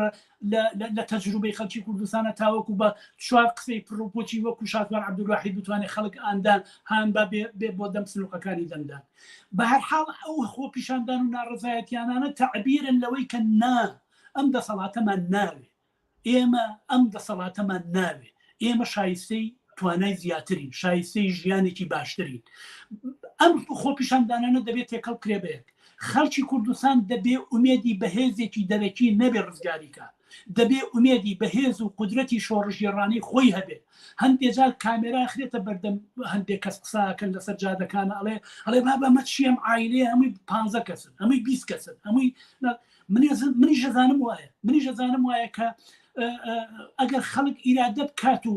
لە تەجروبەی خەلکی کوردستانە تاوەکو بە چوار قسەی پرڕوپۆچی وەکو شاتوان عبدواحی بتوانێت خەڵک ئاندان هاان با بێ بۆ دەم سنوقەکانی دەمدان بە هەرحاڵ ئەو خۆپیشاندان و ناڕزایەتیانانە تعبیرن لەوەی کە نا ئەم دەسەڵاتەمان ناوێ. ئێمە ئەم دەسەڵاتەمان ناوێ. ئێمە شایستەی توانای زیاترین، شایستەی ژیانێکی باشترین. ئەم خۆپیشاندانانە دەبێ تێکەڵ بکرێ بە یەک. خەڵکی کوردستان دەبێ ئومێدی بە هێزێکی دەرەکی نەبێ ڕزگاری کا. دەبێ ئومێدی بە هێز و قودرەتی شۆڕشگێڕانەی خۆی هەبێ. هەندێ جار کامێرا ئەخرێتە بەردەم هەندێ کەس قسە ئەکەن لەسەر جادەکان ئەڵێ ئەڵێ بابە ئەمە چییە ئەم عایلەیە هەمووی پانزە کەسن، هەمووی بیست کەسن، هەمووی. منیش دەزانم وایە منیش دەزانم وایە کە ئەگەر خەڵک ئیرادە بکات و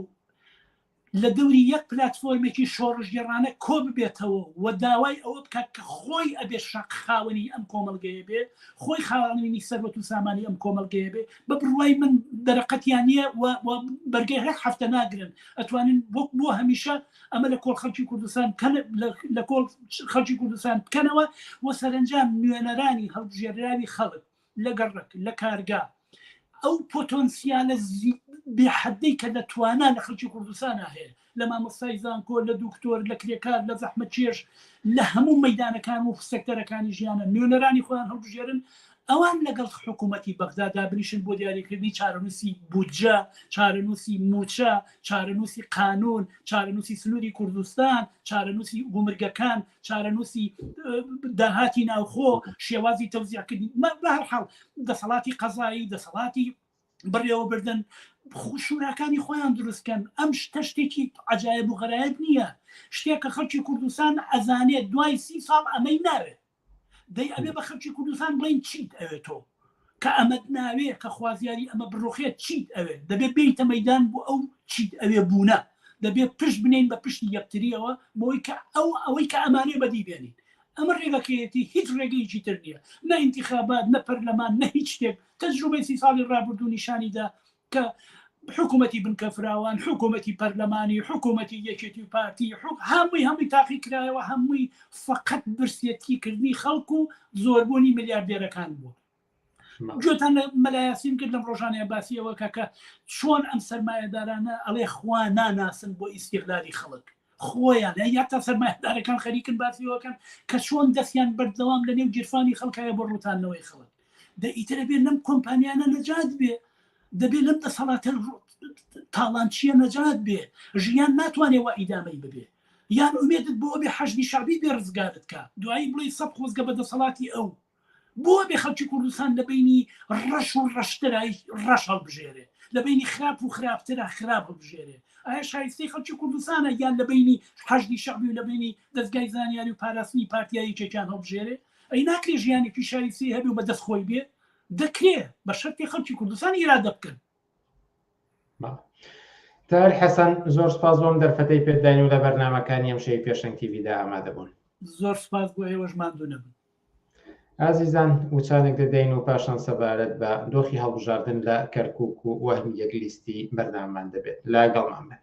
لە دەوری یەک پلتفۆرمێکی شۆڕژگەڕانە کۆ ببێتەوە و داوای ئەوە بکات کە خۆی ئەبێ شق خاوەنی ئەم کۆمەلگەیە بێ خۆی خاوەنی سەرەت و سامانی ئەم کۆمەلگەیە بێ بە بڕوای من دەرەقەتیان نییە بەرگەی هەر هەفتە ناگرن ئەتوانن وەک بۆ هەمیشە ئەمە لە کۆڵ خەڵکی کوردستان لە کۆڵ خەڵکی کوردستان بکەنەوە و سەرنجام نوێنەرانی هەڵبژێراوی خەڵک لە گەڕک لە کارگا ئەو پۆتۆنسیالە بێحدەی کە دەتوانە لە خەڵکی کوردستان هەیە لە مامۆستای زانکۆ لە دکتۆر لە کرێکار لە زەحمە چێش لە هەموو مەدانەکان و سەکتەرەکانی ژیانە نوێنەرانی خۆیان هەڵبژێرن ئەوان لەگەڵ حکوومەتی بەغدا دابنیشن بۆ دیاریکردنی چارەنووسی بودجە، چارەنووسی مووچە، چارەنووسی قانوون، چارەنووسی سنووری کوردستان، چارەنووسی گومرگەکان، چارەنووسی داهاتی ناوخۆ، شێوازی تەوزیعکردنی. بە هەر حاڵ دەسەڵاتی قەزایی، دەسەڵاتی بەڕێوەبردن شوراکانی خۆیان دروستکەن ئەم شتە شتێکی عجاایب و غەرایب نییە شتێکە خەڵکی کوردستان ئەزانێت دوای سی ساڵ ئەمەی ناوێت دەی ئەبێ بە خەلکی کوردستان بڵین چیت ئەوێت تۆ کە ئەمەد ناوێ کە خوازیاری ئەمە بڕۆخێت چیت ئەوێت دەبێت بیتە مەدان بۆ ئەو چیت ئەوێ بوونە دەبێت پشت بنین بە پشتی یەکتریەوە بۆی کە ئەو ئەوەی کە ئەمانێ بەدی بێنین ئەمە ڕێگەکەیەتی هیچ ڕێگەیەکی تر نییە نە انتخابات نە پەرلەمان نە هیچ شتێک تەجروبەی سی ساڵی ڕابردوو نیشانیدا کە حکوومەتی بنکەفراوان حکوومەتی پەرلەمانی حکوومەتی یەکێتی و پارتی حک هەمووی هەمووی تاقی کرایەوە هەمووی فقط برسیەتی کردنی خەڵک و زۆربوونی ملیاردێرەکان بووە گوێتان لە مەلایاسیم کرد لەم ڕۆژانەیە باسیەوە کەکە چۆن ئەم سەرمایهدارانە ئەڵێ خوا ناناسن بۆ ئیسیغلالی خەڵک خۆیان یا تا سەرمایهدارەکان خەریکن باسیەوەکەن کە چۆن دەستیان بەردەوام لە نێو گیرفانی خەڵکایە بۆ ڕوتانەوەی خەڵک دە ئیتر ئەبێ لەم کۆمپانیانە نەجات بێ دەبێ لەم دەسەڵاتە تاڵانچیە نەجات بێ ژیان ناتوانێ وە ئیدامەی ببێ یان ئومێدت بۆ بێ حەشدی شعبی بێ ڕزگارت کە دوایی بڵی سەد خۆزگە بە دەسەڵاتی ئەو بۆ بێ خەڵکی کوردستان لە بینی ڕەش و ڕەشترای ڕەش هەڵبژێرێ لە بینی خراپ و خراپترە خراپ هەڵبژێرێ ئایا شایستەی خەڵکی کوردستانە یان لە بینی حەشدی شعبی و لە بینی دەستگای زانیاری و پاراستنی پارتیایی چێکیان هەڵبژێرێ ئەی ناکرێ ژیانی پیشاویستی هەبێ و بە دەست خۆی بێ؟ دەکرێ، بە شەرتێ خەڵکی کوردستان ئیرادە بکەن. تاهیر حەسەن، زۆر سوپاس بۆ ئەم دەرفەتەی پێت داین و لە بەرنامەکانی ئەمشەوی پێشەنگ تیڤیدا ئامادە بوون. زۆر سوپاس بۆ ئێوەش، ماندوو نەبن. ئازیزان، وچانێک دەدەین و پاشان سەبارەت بە دۆخی هەڵبژاردن لە کەرکووک و وەهمی یەک لیستی بەرنامەمان دەبێت. لەگەڵمان بن.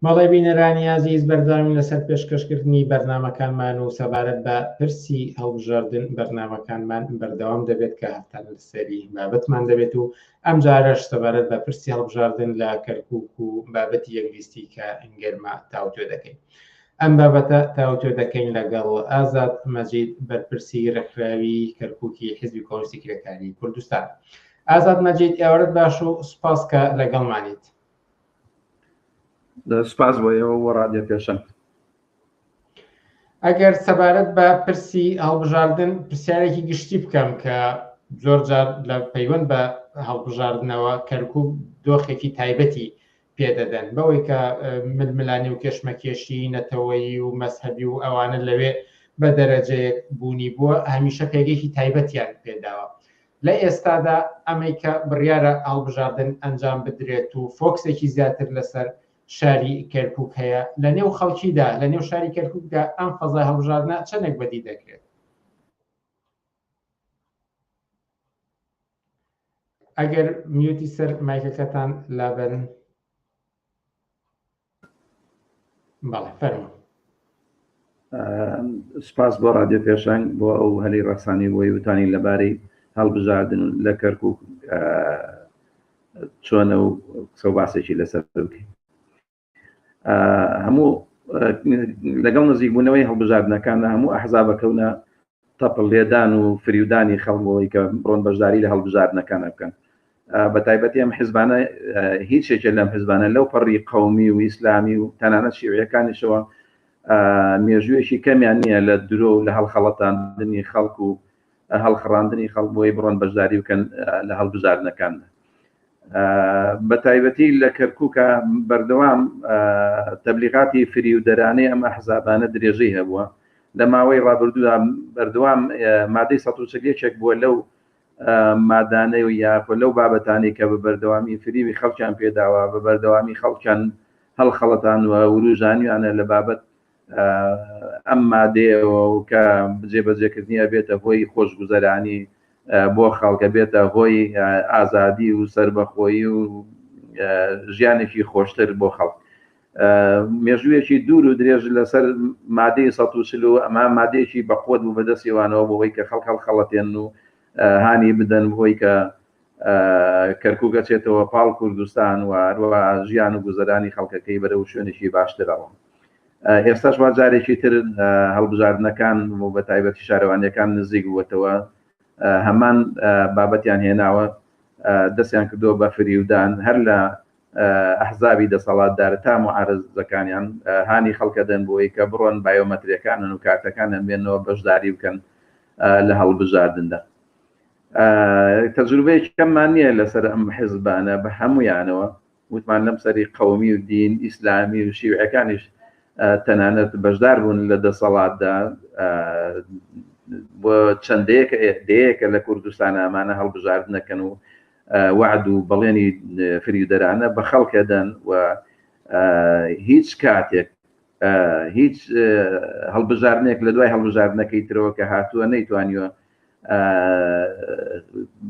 بەڵێ بینەرانی ئازیز بەردەوامی لەسەر پێشکەشکردنی بەرنمەکانمان و سەبارەت بە پرسی هەڵبژاردن بەرنمەکانمان بەردەوام دەبێت کە هەفتان لەسەری بابەتمان دەبێت و ئەمجارەش سەبارەت بە پرسی هەڵبژاردن لە کەرکوک و بابەتی یەکلیستی کە گەرمە تاوتوێ دەکەین. ئەم بابەتە تاوتوێ دەکەین لەگەڵ ئازاد مەجید بەرپرسی ڕێکخراوی کەرکوکی حزبی کۆنستی کرێکاری کوردستان. ئازاد مەجید ئێوارت باش و سپاس کە لەگەڵمانیت. سپاس بۆ ئێوە بۆ ڕادێ پێشەنگ. ئەگەر سەبارەت بە پرسی هەڵبژاردن پرسیارێکی گشتی بکەم کە زۆر جار لە پەیوەند بە هەڵبژاردنەوە کەرکوب دۆخێکی تایبەتی پێدەدەن بەوەی کە ململانی و کێشمەکێشی نەتەوەیی و مەسهبی و ئەوانە لەوێ بە دەرەجەیەک بوونی بووە هەمیشە پێگەیەکی تایبەتیان پێداوە لە ئێستادا ئەمەی کە بڕیارە هەڵبژاردن ئەنجام بدرێت و فۆکسێکی زیاتر لەسەر شاری کەرکوک هەیە لە نێو خەڵکیدا لە نێو شاری کەرکوکدا ئەم فەزای هەڵبژاردنە چەندێک بەدی دەکرێت ئەگەر میوتی سەر مایکەکەتان لابەرن بەڵێ فەرمو سپاس بۆ رادیۆ پێشەنگ بۆ ئەو هەلی ڕەخسانی بۆی وتانی لەبارەی هەڵبژاردن لە کەرکک چۆنە و قسە و باسێکی لەسەر بکەین هەموو لەگەڵ نزیکبوونەوەی هەڵبژاردنەکانە هەموو ئەحزابەکەونە تەپڵ لێدان و فریودانی خەڵک بۆی کە بڕۆن بەشداری لە هەڵبژاردنەکانە بکەن بەتایبەتی ئەم حزبانە هیچێکێ لەم حزبانە لەو پەڕی قومی و ئیسلامی و تەنانە شیوەکانیشەوە مێژوویەکی کەمیان نییە لە درۆ و لە هەڵخەڵەتاندنی خەڵک و هەڵخڕاندنی خەڵک بۆی بڕۆن بەشداری بکەن لە هەڵبژاردنەکاندا بە تایبەتی لە کەرکووکە بەردەوام تەبلیغاتی فریودەرانەی ئەم ئەحزابانە درێژەی هەبووە لە ماوەی ڕابردوودا بەردەوام مادەی 1970 بووە لەو مادانەی و یاخۆ لەو بابەتانی کە بە بەردەوامی فریوی خەڵکیان پێداوە بە بەردەوامی خەڵکیان هەڵخەڵەتانوە وروژانیانە لە بابەت ئەم مادەیەوە و کە جێبەجێکردنی ئەبێتە هۆی خۆشگوزەرانی بۆ خەڵکە بێتە هۆی ئازادی و سربەخۆیی و ژیانێکی خۆشتر بۆ خەڵک مێژوویەکی دوور و درێژ لەسەر مادەی سە چلو ئەما مادەیەکی بەقوت بوو بەدەستیوانەوە بۆەوەی کە خەڵک هەڵخەڵەتێن و هانی بدەن بۆی کە کەرکوک ئەچێتەوە پاڵ کوردستان و هەروە ژیان و گوزەرانی خەڵکەکەی بەرە و شوێنێکی باشترەوە ئێستاش وا جارێکی تر هەڵبژاردنەکان و بە تایبەتی شارەوانیەکان نزیک بووەتەوە هەمان بابەتیان هێناوە دەستیان کردو بە فریودان هەر لە ئەحزابی دەسەڵاتدار تا معارزەکانیان هانی خەڵکە دەن بۆی کە بڕۆن بایۆمەتریەکانن و کارتەکانیان بێنەوە بەشداری بکەن لە هەڵبژاردندا تەجروبەیەکی کەممان نییە لەسەر ئەم حزبانە بە هەمویانەوە وتمان لەم سەری قەومی و دین ئیسلامی و شیوعەکانیش تەنانەت بەشدار بوون لە دەسەڵاتدا بۆ چەندەیەکە دەیەکە لە کوردستان ئەمانە هەڵبژاردنەکەن و وعد و بەڵێنی فریودەرانە بە خەڵکەدەن و هیچ کاتێک هیچ هەڵبژاردنێک لە دوای هەڵبژاردنەکەی ترەوە کە هاتووە نەیتوانیوە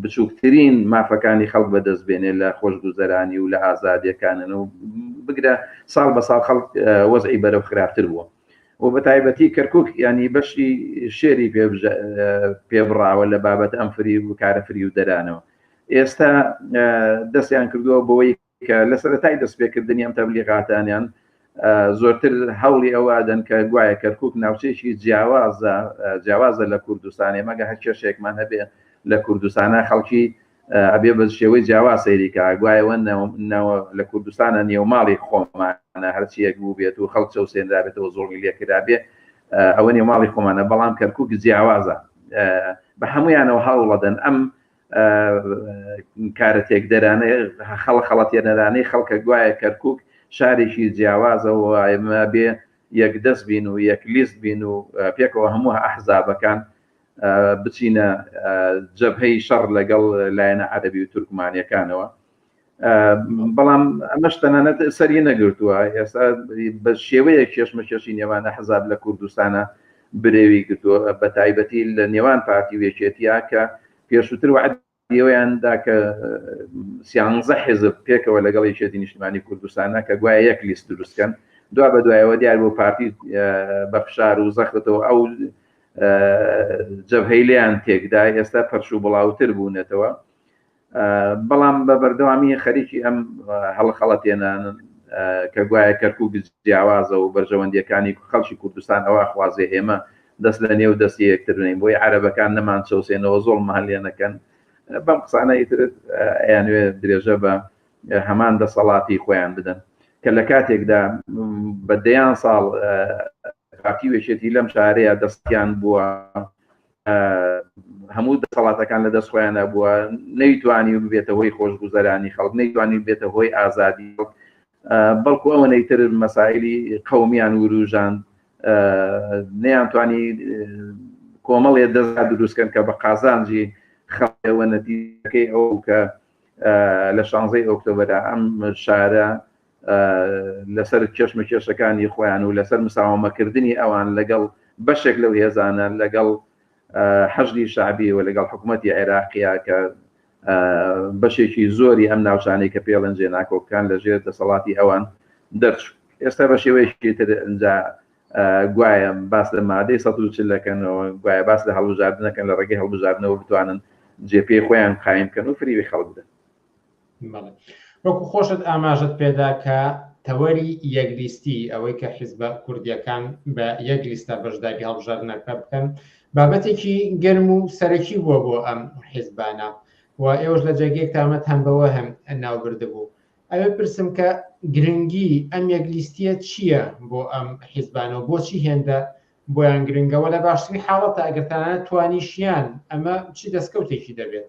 بچووکترین مافەکانی خەڵک بەدەست بێنێ لە خۆشگوزەرانی و لە ئازادیەکانن و بگرە ساڵ بە ساڵ خەڵک وەزعی بەرەو خراپتر بووە و بە تایبەتی کەرکک ینی بەشی شێری پێبراوە لە بابەت ئەم فری و کارە فری و دەرانەوە ئێستا دەستیان کردووە بۆی کە لە سەرەتای دەستپێکردنی ئەم تەبلیغاتانیان زۆرتر هەوڵی ئەوادەن کە گوایە کەرکک ناوچەیەکی جیاوازە جیاوازە لە کوردستانی مەگە هەر کێشێکمان هەبێ لە کوردستانە خەڵکی ئەبێ بە شێوەی جیاوا سەیریکە گوایەوە لە کوردستانە نێوماڵی خۆمانە هەرچیەک بوو بێت و خەڵک چەوسێنرابێتەوە زۆڵی لێکرابێ ئەوە نێوماڵی خۆمانە بەڵام کەرکک جیاوازە بە هەمویانەوە هەوڵەدەن ئەم کارە تێکدەرانەی خەڵە خەڵەتێنەرانەی خەڵکە گوایە کەرکک شارێکی جیاوازەوە ئێمە بێ یەک دەست بین و یەک لیست بین و پێکەوە هەموو ئەحزابەکان بچینە جەبهەی شەڕ لەگەڵ لایەنە عەربی و تورکمانیەکانەوە بەڵام ئەمەش تەنانەت سەری نەگرتووە ئێستا بە شێوەیە کێشمەکێشی نێوانە حەزاب لە کوردستانە برێوی گرتووە بە تایبەتی لە نێوان پارتی وێکێتیا کە پێشووتر وعد ئێوەیاندا کە سیانزە حێزب پێکەوە لەگەڵ یەکێتی نیشتمانی کوردستانە کە گوایە یەک لیست دروستکەن دوا بە دوایەوە دیار بۆ پارتی بە فشار و زەختەوە ئەو جەبهەیلیان تێکدا ئێستا پەرش و بڵاوتر بوونەتەوە بەڵام بە بەردەوامی خەریکی ئەم هەڵخەڵەتێنانن کە گوایە کەرکک جیاوازە و بەرژەوەندیەکانی خەڵکی کوردستان ئەوە خوازێ ئێمە دەست لە نێو دەستی یەکترنین بۆی عربەکان نەمان چەوسێنەوە زۆڵ مەهلێنەکەن بەم قسانە ئیتر ئەیانوێ درێژە بە هەمان دەسەڵاتی خۆیان بدەن کە لە کاتێکدا بە دەیان ساڵ پارتی وێشێتی لەم شارەیە دەستیان بووە هەموو دەسەڵاتەکان لە دەست خۆیانە بووە نەیتوانی و ببێتە هۆی خۆشگوزەرانی خەڵک نەیتوانی بێتە هۆی ئازادی بەڵکو ئەوە نەیتر مەسایلی قومیان وروژان نەیانتوانی کۆمەڵێ دەزا دروستکەن کە بە قازانجی خەڵەوە نەتیەکەی ئەو کە لە شانزەی ئۆکتۆبرە ئەم شارە لەسەر کێشمەکێشەکانی خۆیان و لەسەر مساوەمەکردنی ئەوان لەگەڵ بەشێک لەو هێزانە لەگەڵ حەشدی شعبی و لەگەڵ حکوومەتتی عێراقیە کە بەشێکی زۆری ئەم ناوچانەی کە پێڵەن جێ ناکۆکان لە ژێر دەسەڵاتی ئەوان دەرچوو ئێستا بە شێوەیەکی تر ئەجا گوایە باس لە مادەی سە چلەکەنەوە گوایە باس لە هەڵبژاردنەکەن لە ڕێگەی هەڵبژاردنەوە بتوانن جێپی خۆیان قایم کەن و فریوی خەڵک بدەن وەکو خۆشت ئاماژەت پێدا کە تەوەری یەک لیستی ئەوەی کە حیزبە کوردیەکان بە یەک لیستە بەشداری هەڵبژاردنەکە بکەن بابەتێکی گەرم و سەرەکی بووە بۆ ئەم حیزبانە و ئێوەش لە جێگەیەک تامەت هەم بەوە هەم ناوبردە بوو ئەوێ پرسم کە گرنگی ئەم یەک لیستیە چییە بۆ ئەم حیزبانە و بۆچی هێندە بۆیان گرنگەوە لە باشترین حاڵەتە ئەگەرتانە توانیشیان ئەمە چی دەستکەوتێکی دەبێت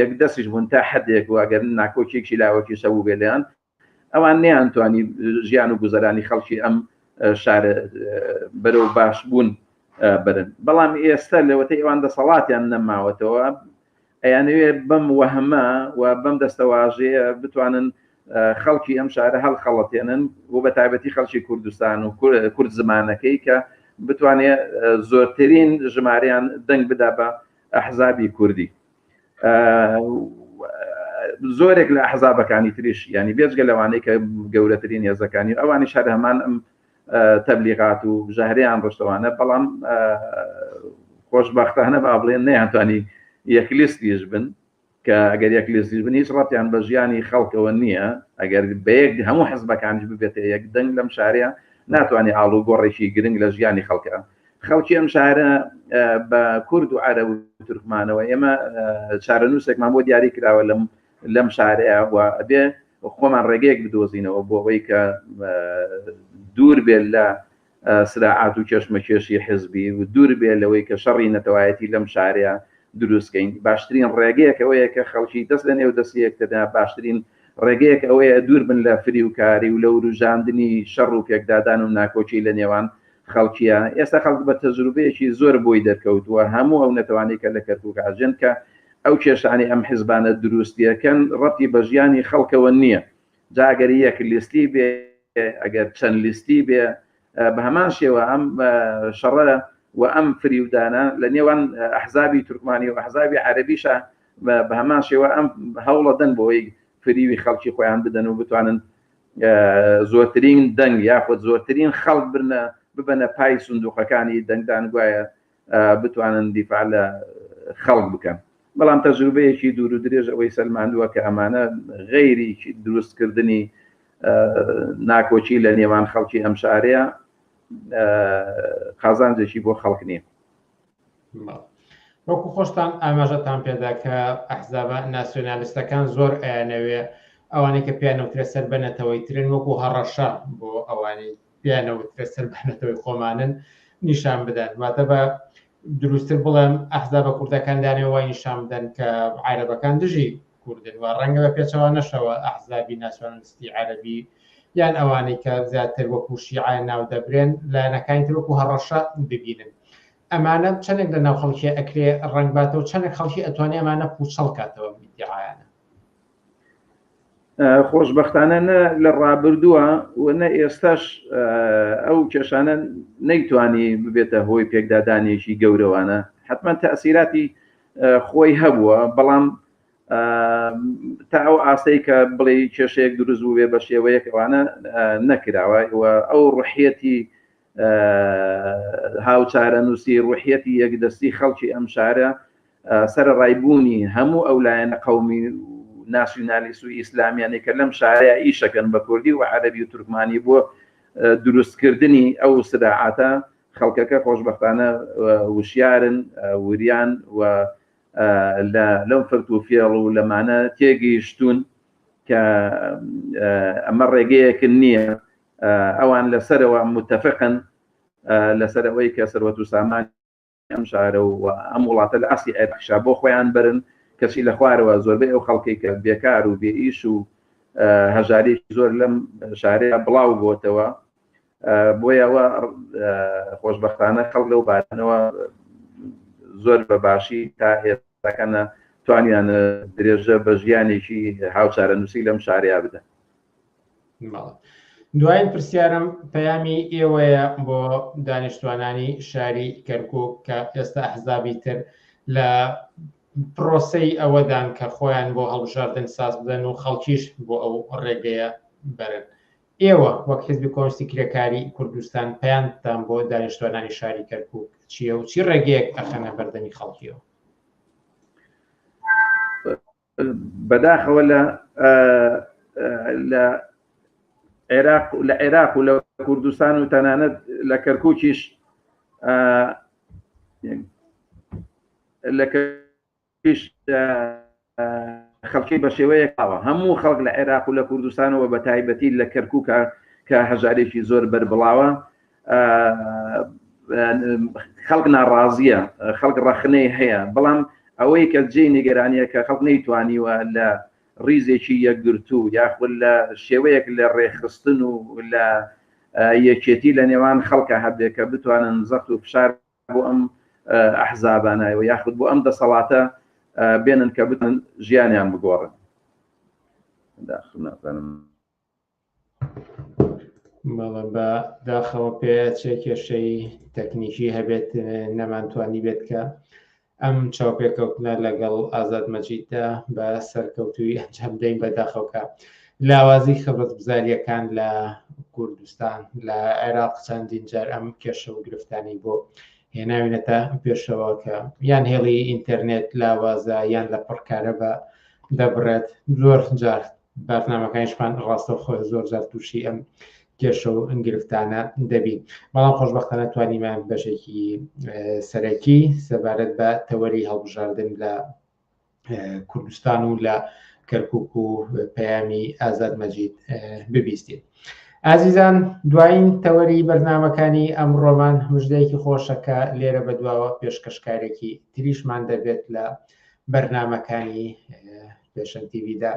یەک دەسیش بوون تا حدێک و ئەگەر ناکۆکیێکی لاوەکی شەبوو بێ لەیان ئەوان نیانتوانی ژیان و گوزەرانی خەڵکی ئەم شار بەرەو باش بوون برن بەڵام ئێستا لەوەتە ئەوان دەسەڵاتیان نەماوەتەوە ئەیانەوێ بەم وەهمە و بەم دەستەواژەیە بتوانن خەڵکی ئەم شارە هەڵ خەڵەتێنن و بە تایبەتی خەڵکی کوردستان و کورد زمانەکەی کە بتوانێت زۆرترین ژماریان دەنگ بدا بە ئەحزابی کوردی زۆرێک لە حەزابەکانی تریش ینی بێجگە لەوانەی کە گەورەترین هێزەکانی ئەوانی شار هەمان ئەم تەبلیغات و ژەهریان ڕشتەوانە بەڵام خۆشببختانە با بڵێن نەیانتوانی یەکلیستیش بن کە ئەگەر یەکلیستیش بن هیچ ڕەتیان بە ژیانی خەڵکەوە نییە ئەگەر بەیەک هەموو حزبەکانیش ببێتە یەک دەنگ لەم شارەیە ناتوانانی ئاڵوگۆڕێکی گرنگ لە ژیانی خەڵکە خەڵکی ئەم شارە بە کورد و عرە و تورکمانەوە ئێمە چارەنووسێکمان بۆ دیاری کراوە لەم لەم شارەیە و ئەبێ خۆمان ڕێگەیەک بدۆزینەوە بۆ ئەوەی کە دوور بێت لە سراعات و کێشمەکێشی حزبی و دوور بێ لەوەی کە شەڕی نەتەوایەتی لەم شارەیە دروستکەین باشترین ڕێگەیەک ئەوەیە کە خەڵکی دەست لە نێو دەستیەکتدا باشترین ڕێگەیەک ئەوەیە دوور بن لە فریوکاری و لە وروژاندنی شەڕ و پێکدادان و ناکۆکی لە نێوان خەڵکیە ئێستا خەڵک بە تەجروبەیەکی زۆر بۆی دەرکەوتووە هەموو ئەو نەتەوانی کە لە کەرکک ئاژێن کە ئەو کێشانی ئەم حزبانە دروستیەکەن ڕەتی بە ژیانی خەڵکەوە نییە جاگەری یەک لیستی بێ ئەگەر چەند لیستی بێ بە هەمان شێوە ئەم شەڕە و ئەم فریودانە لە نێوان ئەحزابی تورکمانی و ئەحزابی عەربیشە بە هەمان شێوە ئەم هەوڵەدەن بۆی فریوی خەڵکی خۆیان بدەن و بتوانن زۆرترین دەنگ یاخود زۆرترین خەڵک برنە ببەنە پای سندوقەکانی دەنگدان گوایە بتوانن دیفاع لە خەڵک بکەن بەڵام تەجروبەیەکی دوور و درێژ ئەوەی سەلماندووە کە ئەمانە غەیری دروستکردنی ناکۆکی لە نێوان خەڵکی ئەم شارەیە قازانجێکی بۆ خەڵک نییە وەکو خۆشتان ئاماژەتان پێدا کە ئەحزابە ناسیۆنالیستەکان زۆر ئەیانەوێ ئەوانەی کە پێیان نەوترێت سەر بە نەتەوەی ترن وەکو هەڕەشە بۆ ئەوانی پێیان نەوترێت سەر بە نەتەوەی خۆمانن نیشان بدەن واتە بە دروستتر بڵێم ئەحزابە کوردەکان دانێ وای نیشان بدەن کە عیرەبەکان دژی کوردن و ڕەنگە بە پێچەوانەشەوە ئەحزابی ناسیۆنالیستی عەرەبی یان ئەوانەی کە زیاتر وەکوو شیعە ناو دەبرێن لایەنەکانی تر وەکوو هەڕەشە ببینن. ئەمانە چەندێک لە ناو خەڵکی ئەکرێ ڕەنگ باتەوە و چەندێک خەڵکی ئەتوانێ ئەمانە پووچەڵ کاتەوە ئەم ئیدیعایانە؟ خۆشببختانە نە لە ڕابردووە و نە ئێستاش ئەو کێشانە نەیتوانی ببێتە هۆی پێکدادانێکی گەورەوانە حتمما تەسیراتی خۆی هەبووە بەڵام تا ئەو ئاستەی کە بڵێ کێشەیەک دروست بوو بێ بە شێوەیەک ئەوانە نەکراوە و ئەو ڕحەتی هاوچارە نووسی ڕحەتی یەکدەستی خەڵکی ئەم شارە سەر ڕایبوونی هەموو ئەو لایەنە قومی ناسیونالیست و ئیسلامیانی کە لەم شارەیە ئیشەکەن بە کوردی و عەربی و تورکمانی بۆ دروستکردنی ئەو سراعاتە خەڵکەکە خۆشببختانە وشیارن وریان و لەم فرت و فێڵ و لەمانە تێگەیشتون کە ئەمە ڕێگەیەکن نییە ئەوان لەسەرەوە متتەفقن لەسەر ئەوەی کە سەروەت و سامان ئەم شارە و ئەم وڵاتە لە ئاسی ئەرخشا بۆ خۆیان برن کەچی لە خوارەوە زۆربەی ئەو خەڵکی کە بێکار و بێئیش و هەژاری زۆر لەم شارەیە بڵاو بۆتەوە بۆیەوە خۆشببختانە خەڵ لەو بارنەوە زۆر بە باشی تا ئێستاکەە توانیان درێژە بە ژیانێکی هاوچارە نووسی لەم شاریا بدەن دوایین پرسیارم پەیامی ئێوەیە بۆ دانیشتوانانی شاری کەرکک کە ئێستا حزابی تر لە پرۆسی ئەوەدان کە خۆیان بۆ هەڵبژاردن ساز بدەن و خەڵکیش بۆ ئەو ڕێگەیە بەرن ئێوە وەک حیزبی کۆنستی کرێکاری کوردستان پەیامتان بۆ دانیشتوانانی شاری کەرکوک چیە و چی ڕێگەیەک ئەخەنە بەردەمی خەڵکیەوە بەداخەوە لە لە عێراق لە عێراق و لە کوردستان و تەنانەت لە کەرکوکیش لە پیش خەڵکی بە شێوەیەک ئاوە هەموو خەڵک لە عێراق و لە کوردستانەوە بە تایبەتی لە کەرکووکە کە هەژارێکی زۆر بەربڵاوە خەڵک ناڕازیە خەڵک ڕەخنەی هەیە بەڵام ئەوەی کە جێ نیگەرانیە کە خەڵک نەیتوانیوە لە ڕیزێکی یەکگرتو یاخود لە شێوەیەک لە ڕێخستن و لە یەکێتی لە نێوان خەڵکە هەبێ کە بتوانن زەخت و فشار بۆ ئەم ئەحزابانە و یاخود بۆ ئەم دەسەڵاتە بێنن کە بتن ژیانیان بگۆڕن داخنازانم بەڵە بە داخەوە پێ چێ کێشەی تەکنیکی هەبێت نەمانتوانی بێت کە ئەم چاوپێکەوتنە لەگەڵ ئازاد مەجیددا بە سەرکەوتووی ئەنجام دەین بە داخەوکە لاوازی خەبەتگوزاریەکان لە کوردستان لە عێراق چەندین جار ئەم کێشە و گرفتانی بۆ هێناوینەتە پێشەوە کە یان هێڵی ئینتەرنێت لاوازە یان لە پڕکارە بە دەبڕێت زۆر جار بارتنامەکانیشمان ڕاستەوخۆ زۆر جار تووشی ئەم کێشە و ئەنگرفتانە دەبین بەڵام خۆشببختانە توانیمان بەشێکی سەرەکی سەبارەت بە تەوەری هەڵبژاردن لە کوردستان و لە کەرکک و پەیامی ئازاد مەجید ببیستین. ئازیزان دوایین تەوەری بەرنمەکانی ئەم ڕۆمان مژدەیەکی خۆشەکە لێرە بەدواوە پێشکەشکارێکی تریشمان دەبێت لە بەرنمەکانی پێشەن تیویدا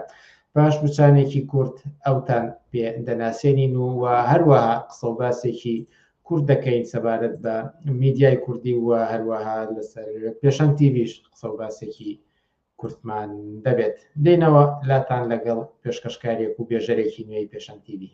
پاش بچانێکی کورت ئەوتان پێ دەناسێنین و و هەروەها قسە و باسێکی کورد دەکەین سەبارەت بە میدیای کوردی و هەروەها لەسەر پێشەن تیویش قسە و باسێکی کورتمان دەبێت دێنەوە لاتان لەگەڵ پێشکەشکارێک و بێژەرێکی نوێی پێشەن تیوی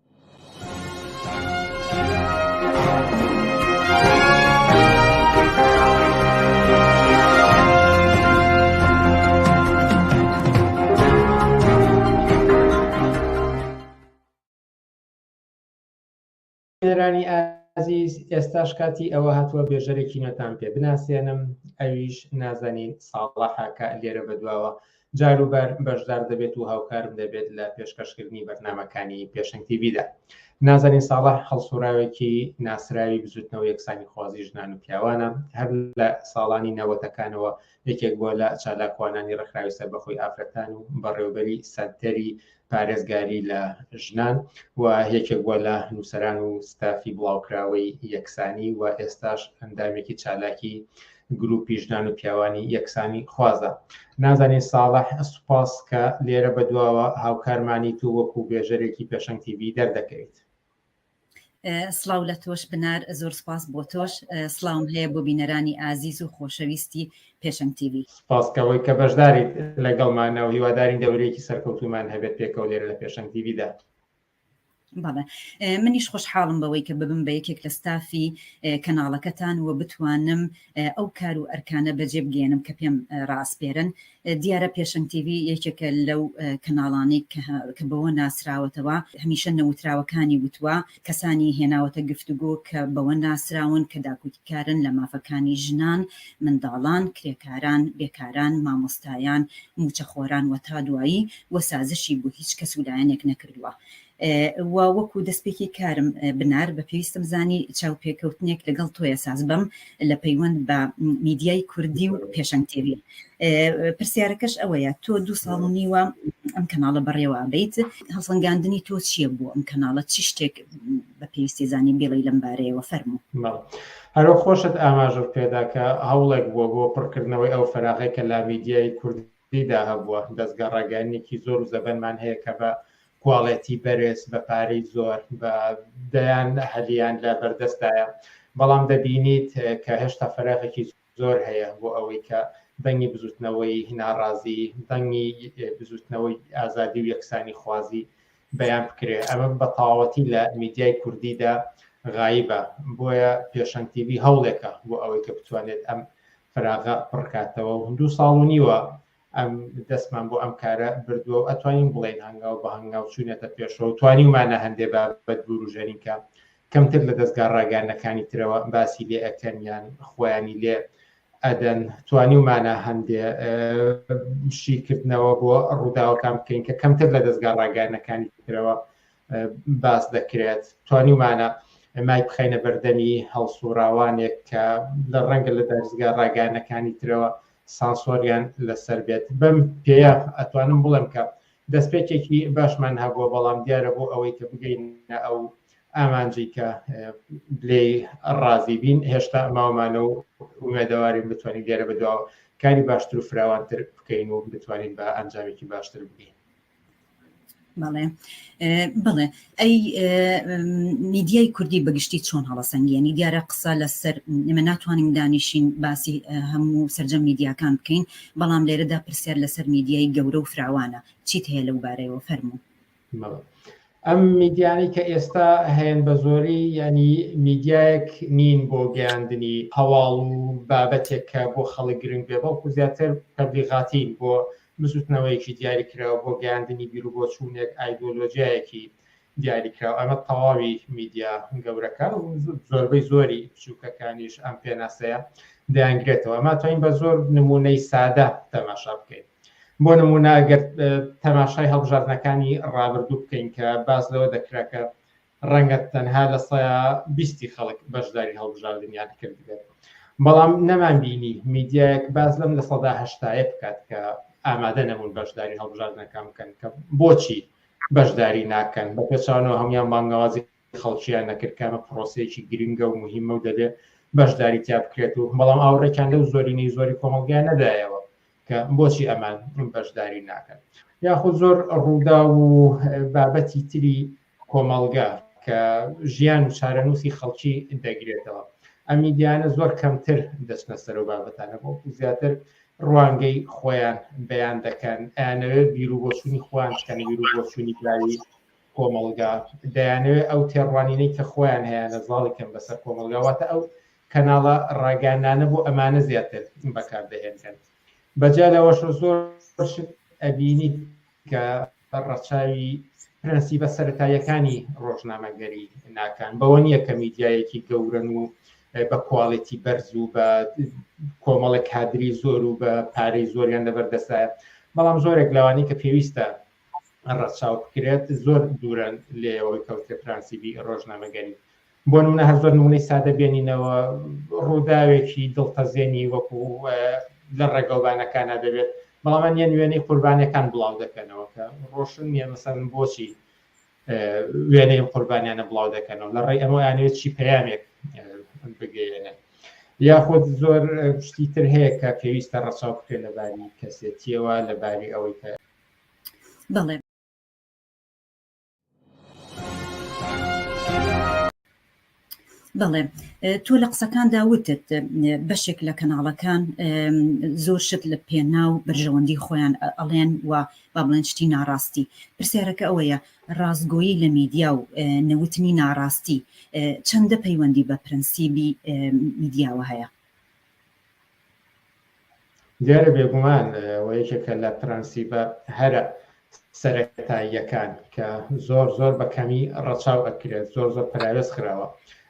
بینەرانی ئازیز ئێستاش کاتی ئەوە هاتووە بێژەرێکی نۆتان پێ بناسێنم ئەویش نازەنین ساڵەحە کە لێرە بەدواوە جاروبار بەشدار دەبێت و هاوکارم دەبێت لە پێشکەشکردنی بەرنامەکانی پێشنگ تیڤیدا نازەنین ساڵح هەڵسوڕاوێکی ناسراوی بزوتنەوە یەکسانی خوازی ژنان و پیاوانە هەر لە ساڵانی نەوەتەکانەوە یەکێک بۆ لە چالاکوانانی ڕخراوی سەر بەخۆی ئافرەتان و بەڕێوبەری سەنتەری پارێزگاری لە ژنان و یەکێک بووە لە نووسەران و ستافی بڵاوکراوەی یەکسانی و ئێستاش ئەندامێکی چالاکی گروپی ژنان و پیاوانی یەکسانی خوازە نازانین ساڵح سوپاس کە لێرە بەدواوە هاوکارمانی تو وەکو بێژەرێکی پێشەنگتیبی دەردەکەویت سڵاو لە تۆش بنار زۆر سپاس بۆ تۆش سلااوم هەیە بۆ بینەرانی ئازیز و خۆشەویستی پێشەنگ تیڤ سپاسکەوەی کە بەشداریت لەگەڵمانە و هیوادارین دەورێکی سەرکەوتومان هەبێت پێکەوە لێرە لە پێشەنگ تیڤدا بەڵێ منیش خۆشحاڵم بەوەی کە ببم بە یەکێک لە ستافی کەناڵەکەتان و بتوانم ئەو کار و ئەرکانە بەجێ بگەیەنم کە پێم ڕاسپێرن دیارە پێشنگ تیوی یەکێکە لەو کەناڵانەی کە بەوە ناسراوەتەوە هەمیشە نەوتراوەکانی وتووە کەسانی هێناوەتە گفتوگۆ کە بەوە ناسراون کە داکوتیکارن لە مافەکانی ژنان منداڵان کرێکاران بێکاران مامۆستایان موچەخۆران وە تا دوایی وە سازشی بۆ هیچ کەس و لایەنێک نەکردووە وا وەکو دەستپێکی کارم بنار بە پێویستم زانی چاوپێکەوتنێک لەگەڵ تۆیە ساز بم لە پەیوەند بە میدیای کوردی و پێشەنگ تێوی پرسیارەکەش ئەوەیە تۆ دوو ساڵ و نیوە ئەم کەناڵە بەڕێوە بیت هەڵسەنگاندنی تۆ چییە بۆ ئەم کەناڵە چی شتێک بە پێویستی زانین بێڵی لەم بارەیەوە فەرمو هەرو خۆشت ئاماژە پێداکە هەوڵێک بووە بۆ پڕکردنەوەی ئەو فەراغێکە لا میدیای کوردی تیدا هەبووە، دەزگا ڕاگەیاندنێکی زۆر و زەبەنمان هەیە کە بە کواڵێتی بەرێز بە پارەی زۆر بە دەیان هەلیان لە بەردەستایە، بەڵام دەبینیت کە هێشتا فەراغێکی زۆر هەیە بۆ ئەوەی کە دەنگی بزوتنەوەی ناڕازی، دەنگی بزوتنەوەی ئازادی و یەکسانی خوازی بەیان بکرێ ئەمە بەتەواوەتی لە میدیای کوردیدا غایبە بۆیە پێشەنگ تیڤی هەوڵێکە بۆ ئەوەی کە بتوانێت ئەم فراغە پڕکاتەوە و هندوو ساڵ و نیوە ئەم دەستمان بۆ ئەم کارە بردووە و ئەتوانین بڵێن هەنگاو بە هەنگاو چوونەتە پێشەوە توانیمانە هەندێ بابەت بوروژەنینکە کەمتر لە دەستگا ڕاگەیاندنەکانی ترەوە باسی لێ ئەکەن یان خۆیانی لێ ئەدەن توانیومانە هەندێ شیکردنەوە بۆ ڕووداوەکان بکەین کە کەمتر لە دەستگا ڕاگەانەکانی ترەوە باس دەکرێت توانیومانە مای بخینە بەردەمی هەڵسوڕاوانێک کە لە ڕەنگە لە دەستگا ڕاگەانەکانی ترەوە سانسۆریان لەسەر بێت بەم پێەیە ئەتوانم بڵێم کە دەستپێکێکی باشمان هەبووە بەڵام دیارە بۆ ئەوەی کە بگەین ئەو ئامانجی کە لێی ڕازی بین هێشتا ماوەمانە و ئومێدەوارین بتوانین لێرە بەدواوە کاری باشتر و فراوانتر بکەین و بتوانین بە ئەنجامێکی باشتر بگەین بەڵێ بڵێ ئەی میدیای کوردی بەگشتی چۆن هەڵەسەنگیێنی دیارە قسە لەسەر ئمە ناتوانین دانیشین باسی هەموو سرجە میدیاکان بکەین بەڵام لێرەدا پرسیار لەسەر میدیای گەورە و فراوانە چیت هەیە لەو بارەیەوە فەرموو ئەم میدیانی کە ئێستا هەیەن بە زۆری ینی میدیایەک نین بۆ گەیاندنی هەواڵ و بابەتێک کە بۆ خەڵک گرنگ بێ بەڵکو زیاتر تەبلیغاتین بۆ بزوتنەوەیەکی دیاری کراوە بۆ گەیاندنی بیر و بۆچوونێک ئایدۆلۆژیایەکی دیاری کراوە ئەمە تەواوی میدیا گەورەکە و زۆربەی زۆری بچووکەکانیش ئەم پێناسەیە دەیانگرێتەوە ماتوانین بە زۆر نمونەی سادە تەماشا بکەین بۆ نمونە گەر تەماشای هەڵبژاردنەکانی ڕابردوو بکەین کە باس لەوە دەکرا کە ڕەنگە تەنها لە سەیا بیستی خەڵک بەشداری هەڵبژاردنیان کردبێت بەڵام نەمان بینی میدیایەک باز لەم لە سەدا هەشتایە بکات کە ئامادە نەبوون بەشداری هەڵبژاردنەکان بکەن کە بۆچی بەشداری ناکەن بە پێچانەوە هەموان بانگەوازی خەڵکییان نەکرد کامە پرۆسەیەکی گرنگە و مهمە و دەبێت بەشداری تیا بکرێت و بەڵام ئاوڕێکیان لەو زۆرینەی زۆری کۆمەڵگای نەدایەوە کە بۆچی ئەمان بەشداری ناکەن یاخود زۆر ڕوودا و بابەتی تری کۆمەڵگە کە ژیان و چارەنووسی خەڵکی دەگرێتەوە ئەمی دیانە زۆر کەمتر دەچنە سەر و بابەتانە بۆ زیاتر ڕوانگەی خۆیان بەیان دەکەن ئەیانەوێت بیرو بۆچوونی خۆیان بکەن بیرو بۆچوونی براوی کۆمەڵگا دەیانەوێت ئەو تێڕوانینەی کە خۆیان هەیەە زاڵی کەم بەسەر کۆمەلگاواتە ئەو کەناڵە ڕاگەیاندانە بۆ ئەمانە زیاتر بەکار دەهێنرێن بەجیا لەوەشە زۆر شت ئەبینی کە ڕەچاوی پرەنسیبە سەتاییەکانی ڕۆژنامەگەری ناکان بەوە نییە کە میدیایەکی گەورن و بە کوالێتی بەرز و بە کۆمەڵە کادری زۆر و بە پارەی زۆریان لەبەردەسایە بەڵام زۆرێک لەوانی کە پێویستە ڕەچاو بکرێت زۆر دوورن لێەوەی کەوتە پرانسیبی ڕۆژنامەگەری بۆنمونە هەر زۆر نمونەی سادە بێنینەوە ڕوداوێکی دڵتەزێنی وەکو لە ڕێگەوبانەکانا دەبێت بەڵام نیەن وێنەی قوربانەکان بڵاو دەکەنەوە کە ڕۆشن نیە مەسەن بۆچی وێنەی قوربانیانە بڵاو دەکەنەوە لە ڕێی ئەمە یانێت چی پەیامێک بگەێنن یاخود زۆر شتی تر هەیە کە پێویستە ڕەچاو بکرێت لە باری کەسێتیەوە لە باری ئەوەی کە بەڵێ بەڵێ تۆ لە قسەکاندا وتت بەشێک لە کەناڵەکان زۆر شت لە پێنا و بەرژەوەندی خۆیان ئەڵێن و با بڵێن شتی ناڕاستی پرسیارەکە ئەوەیە ڕاستگۆیی لە میدیا و نەوتنی ناڕاستی چەندە پەیوەندی بە پرەنسیبی میدیاوە هەیە دیارە بێگومان و یەکێکە لە پرەنسیبە هەرە سەرەتاییەکان کە زۆر زۆر بە کەمی ڕەچاو ئەکرێت زۆر زۆر پەراوێز خراوە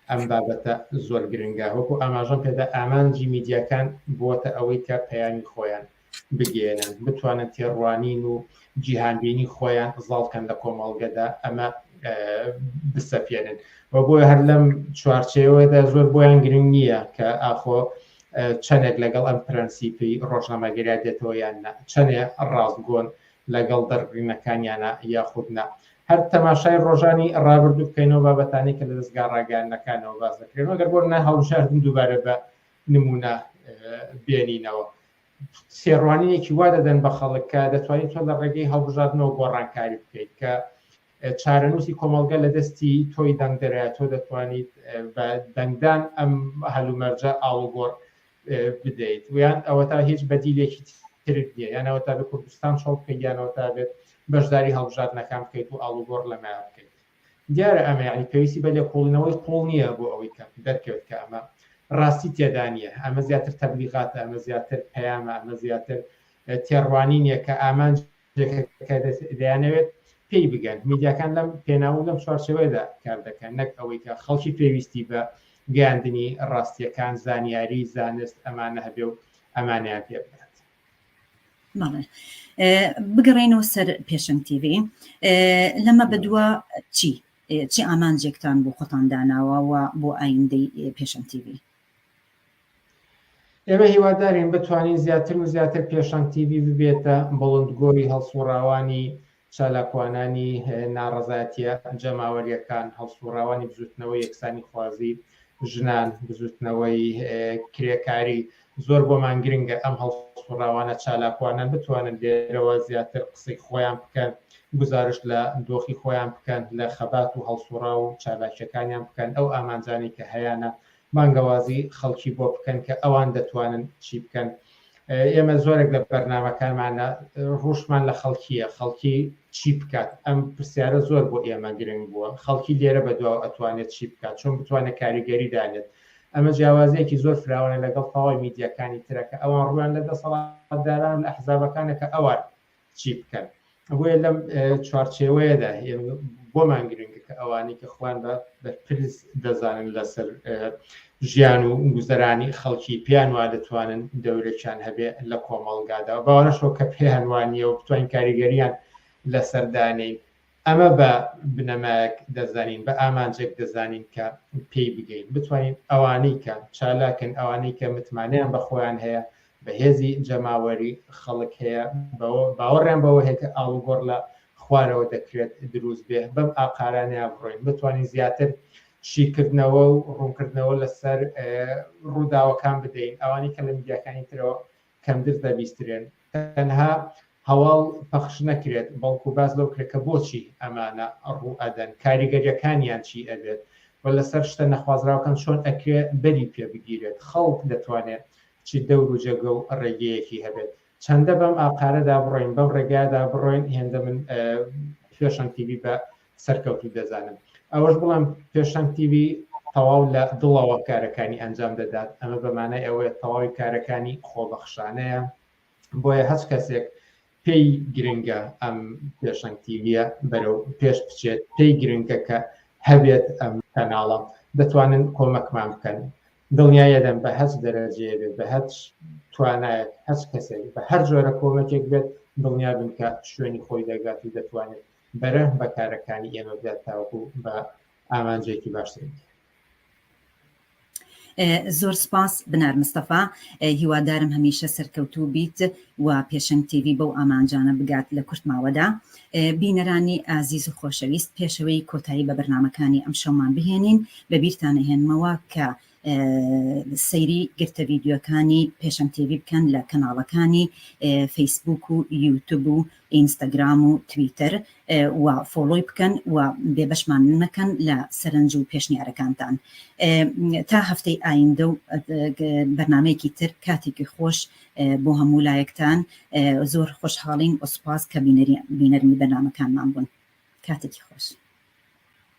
ئەم بابەتە زۆر گرنگە وەکو ئاماژەم پێدا ئامانجی میدیاکان بووەتە ئەوەی کە پەیامی خۆیان بگەیەنن بتوانن تێڕوانین و جیهانبینی خۆیان زاڵکەن لە کۆمەڵگەدا ئەمە بسەپێنن و بۆ هەر لەم چوارچەوەدا زۆر بۆیان گرنگ نییە کە ئاخۆ چەندێک لەگەڵ ئەم پرەنسیپی ڕۆژنامەگەریا دێتەوە یان چەندێ ڕاستگۆن لەگەڵ دەرڕینەکانیانە یاخودنا هەر تەماشای ڕۆژانی ڕابردوو بکەینەوە بابەتانی کە لە دەستگا ڕاگەانەکانەوە باز دەکرێن گەر بۆ نە هەڵبژاردن دووبارە بە نموونە بێنینەوە تێڕوانینێکی وا دەدەن بە خەڵک کە دەتوانیت تۆ لە ڕێگەی هەڵبژاردنەوە گۆڕانکاری بکەیت کە چارەنووسی کۆمەڵگە لە دەستی تۆی دەنگدەرە تۆ دەتوانیت بە دەنگدان ئەم هەلومەرجە ئاڵوگۆڕ بدەیت ویان ئەوە تا هیچ بەدیلێکی ترت نیە یانەوە تا بە کوردستان چۆڵ بکەیانەوە تا بێت بەشداری هەڵبژاردنەکان بکەیت و ئاڵوگۆڕ لەمایان بکەیت دیارە ئەمە یانی پێویستی بە لێکۆڵینەوەی قووڵ نییە بۆ ئەوەی کە دەرکەوێت کە ئەمە ڕاستی تێدا نییە، ئەمە زیاتر تەبلیغاتە، ئەمە زیاتر پەیامە، ئەمە زیاتر تێڕوانینێک کە ئامانجێکە کە دەیانەوێت پێی بگەن. میدیاکان لەم پێناو و لەم چوارچێوەیەدا کار دەکەن، نەک ئەوەی کە خەڵکی پێویستی بە گەیاندنی ڕاستییەکان، زانیاری، زانست ئەمانە هەبێ و ئەمانەیان پێ بگات. بگەڕێنەوە سەر پێشنگ تیV لەمە بەدووە چی چی ئامانجێکتان بۆ خۆتان داناوە و بۆ ئایندەی پێشم تیV ئێمە هیوادارین بتوانین زیاتر و زیاتر پێشنگ تیV ببێتە بڵندگۆری هەڵسوڕاوانی چالاکوانانی ناڕەزایەتییە جەماوەرییەکان، هەڵسووڕاوانی بزووتنەوەی یەکسانیخوازی ژنان، بزووتنەوەی کرێکاری، زۆر بۆمان گرنگە ئەم هەڵسووڕاوانە چالاکوانان بتوانن لێرەوە زیاتر قسەی خۆیان بکەن، گوزارشت لە دۆخی خۆیان بکەن، لە خەبات و هەڵسووڕاو و چالاکییەکانیان بکەن، ئەو ئامانجانەی کە هەیانە بانگەوازی خەڵکی بۆ بکەن کە ئەوان دەتوانن چی بکەن ئێمە زۆرێک لە بەرنمەکانمان لە ڕوشمان لە خەڵکیە خەڵکی چی بکات ئەم پرسیارە زۆر بۆ ئێمە گرنگ بووە خەڵکی لێرە بە دواوە ئەتوانێت چی بکات چۆن بتوانێت کاریگەری دانێت ئەمە جیاوازیەکی زۆر فراوانە لەگەڵ تەواوی میدیاکانی ترەکە ئەوان ڕویان لە دەسەڵاتداران لە حزابەکانە کە ئەوان چی بکەن ئەوەیە لەم چوارچێوەیەدا بۆمان گرنگە کە ئەوانەی کە خوان بە بەرپرس دەزانن لەسەر ژیان و گوزەرانی خەڵکی پێیان وا دەتوانن دەورێکیان هەبێ لە کۆمەڵگادا باوەڕشەوە کە پێیان وانە و بتوانین کاریگەریان لەسەردانین ئەمە بە بنەمایەک دەزانین، بە ئامانجێک دەزانین کە پێی بگەین، بتوانین ئەوانەی کە چالاکن، ئەوانەی کە متمانەیان بە خۆیان هەیە، بە هێزی جەماوەری خەڵک هەیە، بەوە باوەڕیان بەوە هەیە کە ئاڵوگۆڕ لە خوارەوە دەکرێت دروست بێ، بەم ئاقارانەیان بڕۆین، بتوانین زیاتر شیکردنەوە و ڕوونکردنەوە لەسەر ڕووداوەکان بدەین، ئەوانەی کە لە میدیاکانی ترەوە کەمدز دەبیسترێن تەنها هەواڵ پەخش نەکرێت بەڵکو باس لەو کرێت کە بۆچی ئەمانە ڕوو ئەدەن کاریگەریەکانیان چی ئەبێت و لەسەر شتە نەخوازراوکان چۆن ئەکرێ بەری پێ بگیرێت خەڵک دەتوانێت چ دەور و جێگە و ڕێگەیەکی هەبێت چەندە بەم ئاقارەدا بڕۆین بەم ڕێگادا بڕۆین هێندە من پێشەن تیبی بە سەرکەوتوو دەزانم ئەوەش بڵم پێشەنگ تیوی تەواو لە دڵەوە کارەکانی ئەنجام دەدات ئەمە بەمانای ئەوەیە تەواوی کارەکانی خۆبەخشانەیە بۆیە هەچ کەسێک پێی گرنگە ئەم پێشەنگ تیویە بەرەو پێش بچێت پێی گرنگە کە هەبێت ئەم کەناڵە دەتوانن کۆمەکمان بکەن دڵنیایە دەم بە هەچ دەرەجەیە بێت بە هەچ توانایەت هەچ کەسێک بە هەر جۆرە کۆمەکێک بێت دڵنیا بن کە شوێنی خۆی دەگات و دەتوانێت بەرە بە کارەکانی ئێمە بدات تاوەکو بە ئامانجێکی باشتر بگەین. زۆر سپاس بنار مستەفا هیوادارم هەمیشە سەرکەوتوو بیت و پێشنگ تیوی بەو ئامانجانە بگات لە کورت ماوەدا بینەرانی ئازیز و خۆشەویست پێشەوەی کۆتایی بە بەرنمەکانی ئەم شەومان بهێنین بە بیرتانەهێنمەوە کە سەیری گرتە ڤیدیۆکانی پێشەم تێبی بکەن لە کەناڵەکانی فەیسبوک و یوتب و ئینستاگرام و تویتر و فۆلۆی بکەن و بێبەشمان نەکەن لە سەرنج و پێشنیارەکانتان تا هەفتەی ئایندە و بەرنمەیەکی تر کاتێکی خۆش بۆ هەموو لایەکتان زۆر خۆشحاڵین ئۆسپاس کە بینەری بینەرمی بەنامەکانمان بوون کاتێکی خۆش.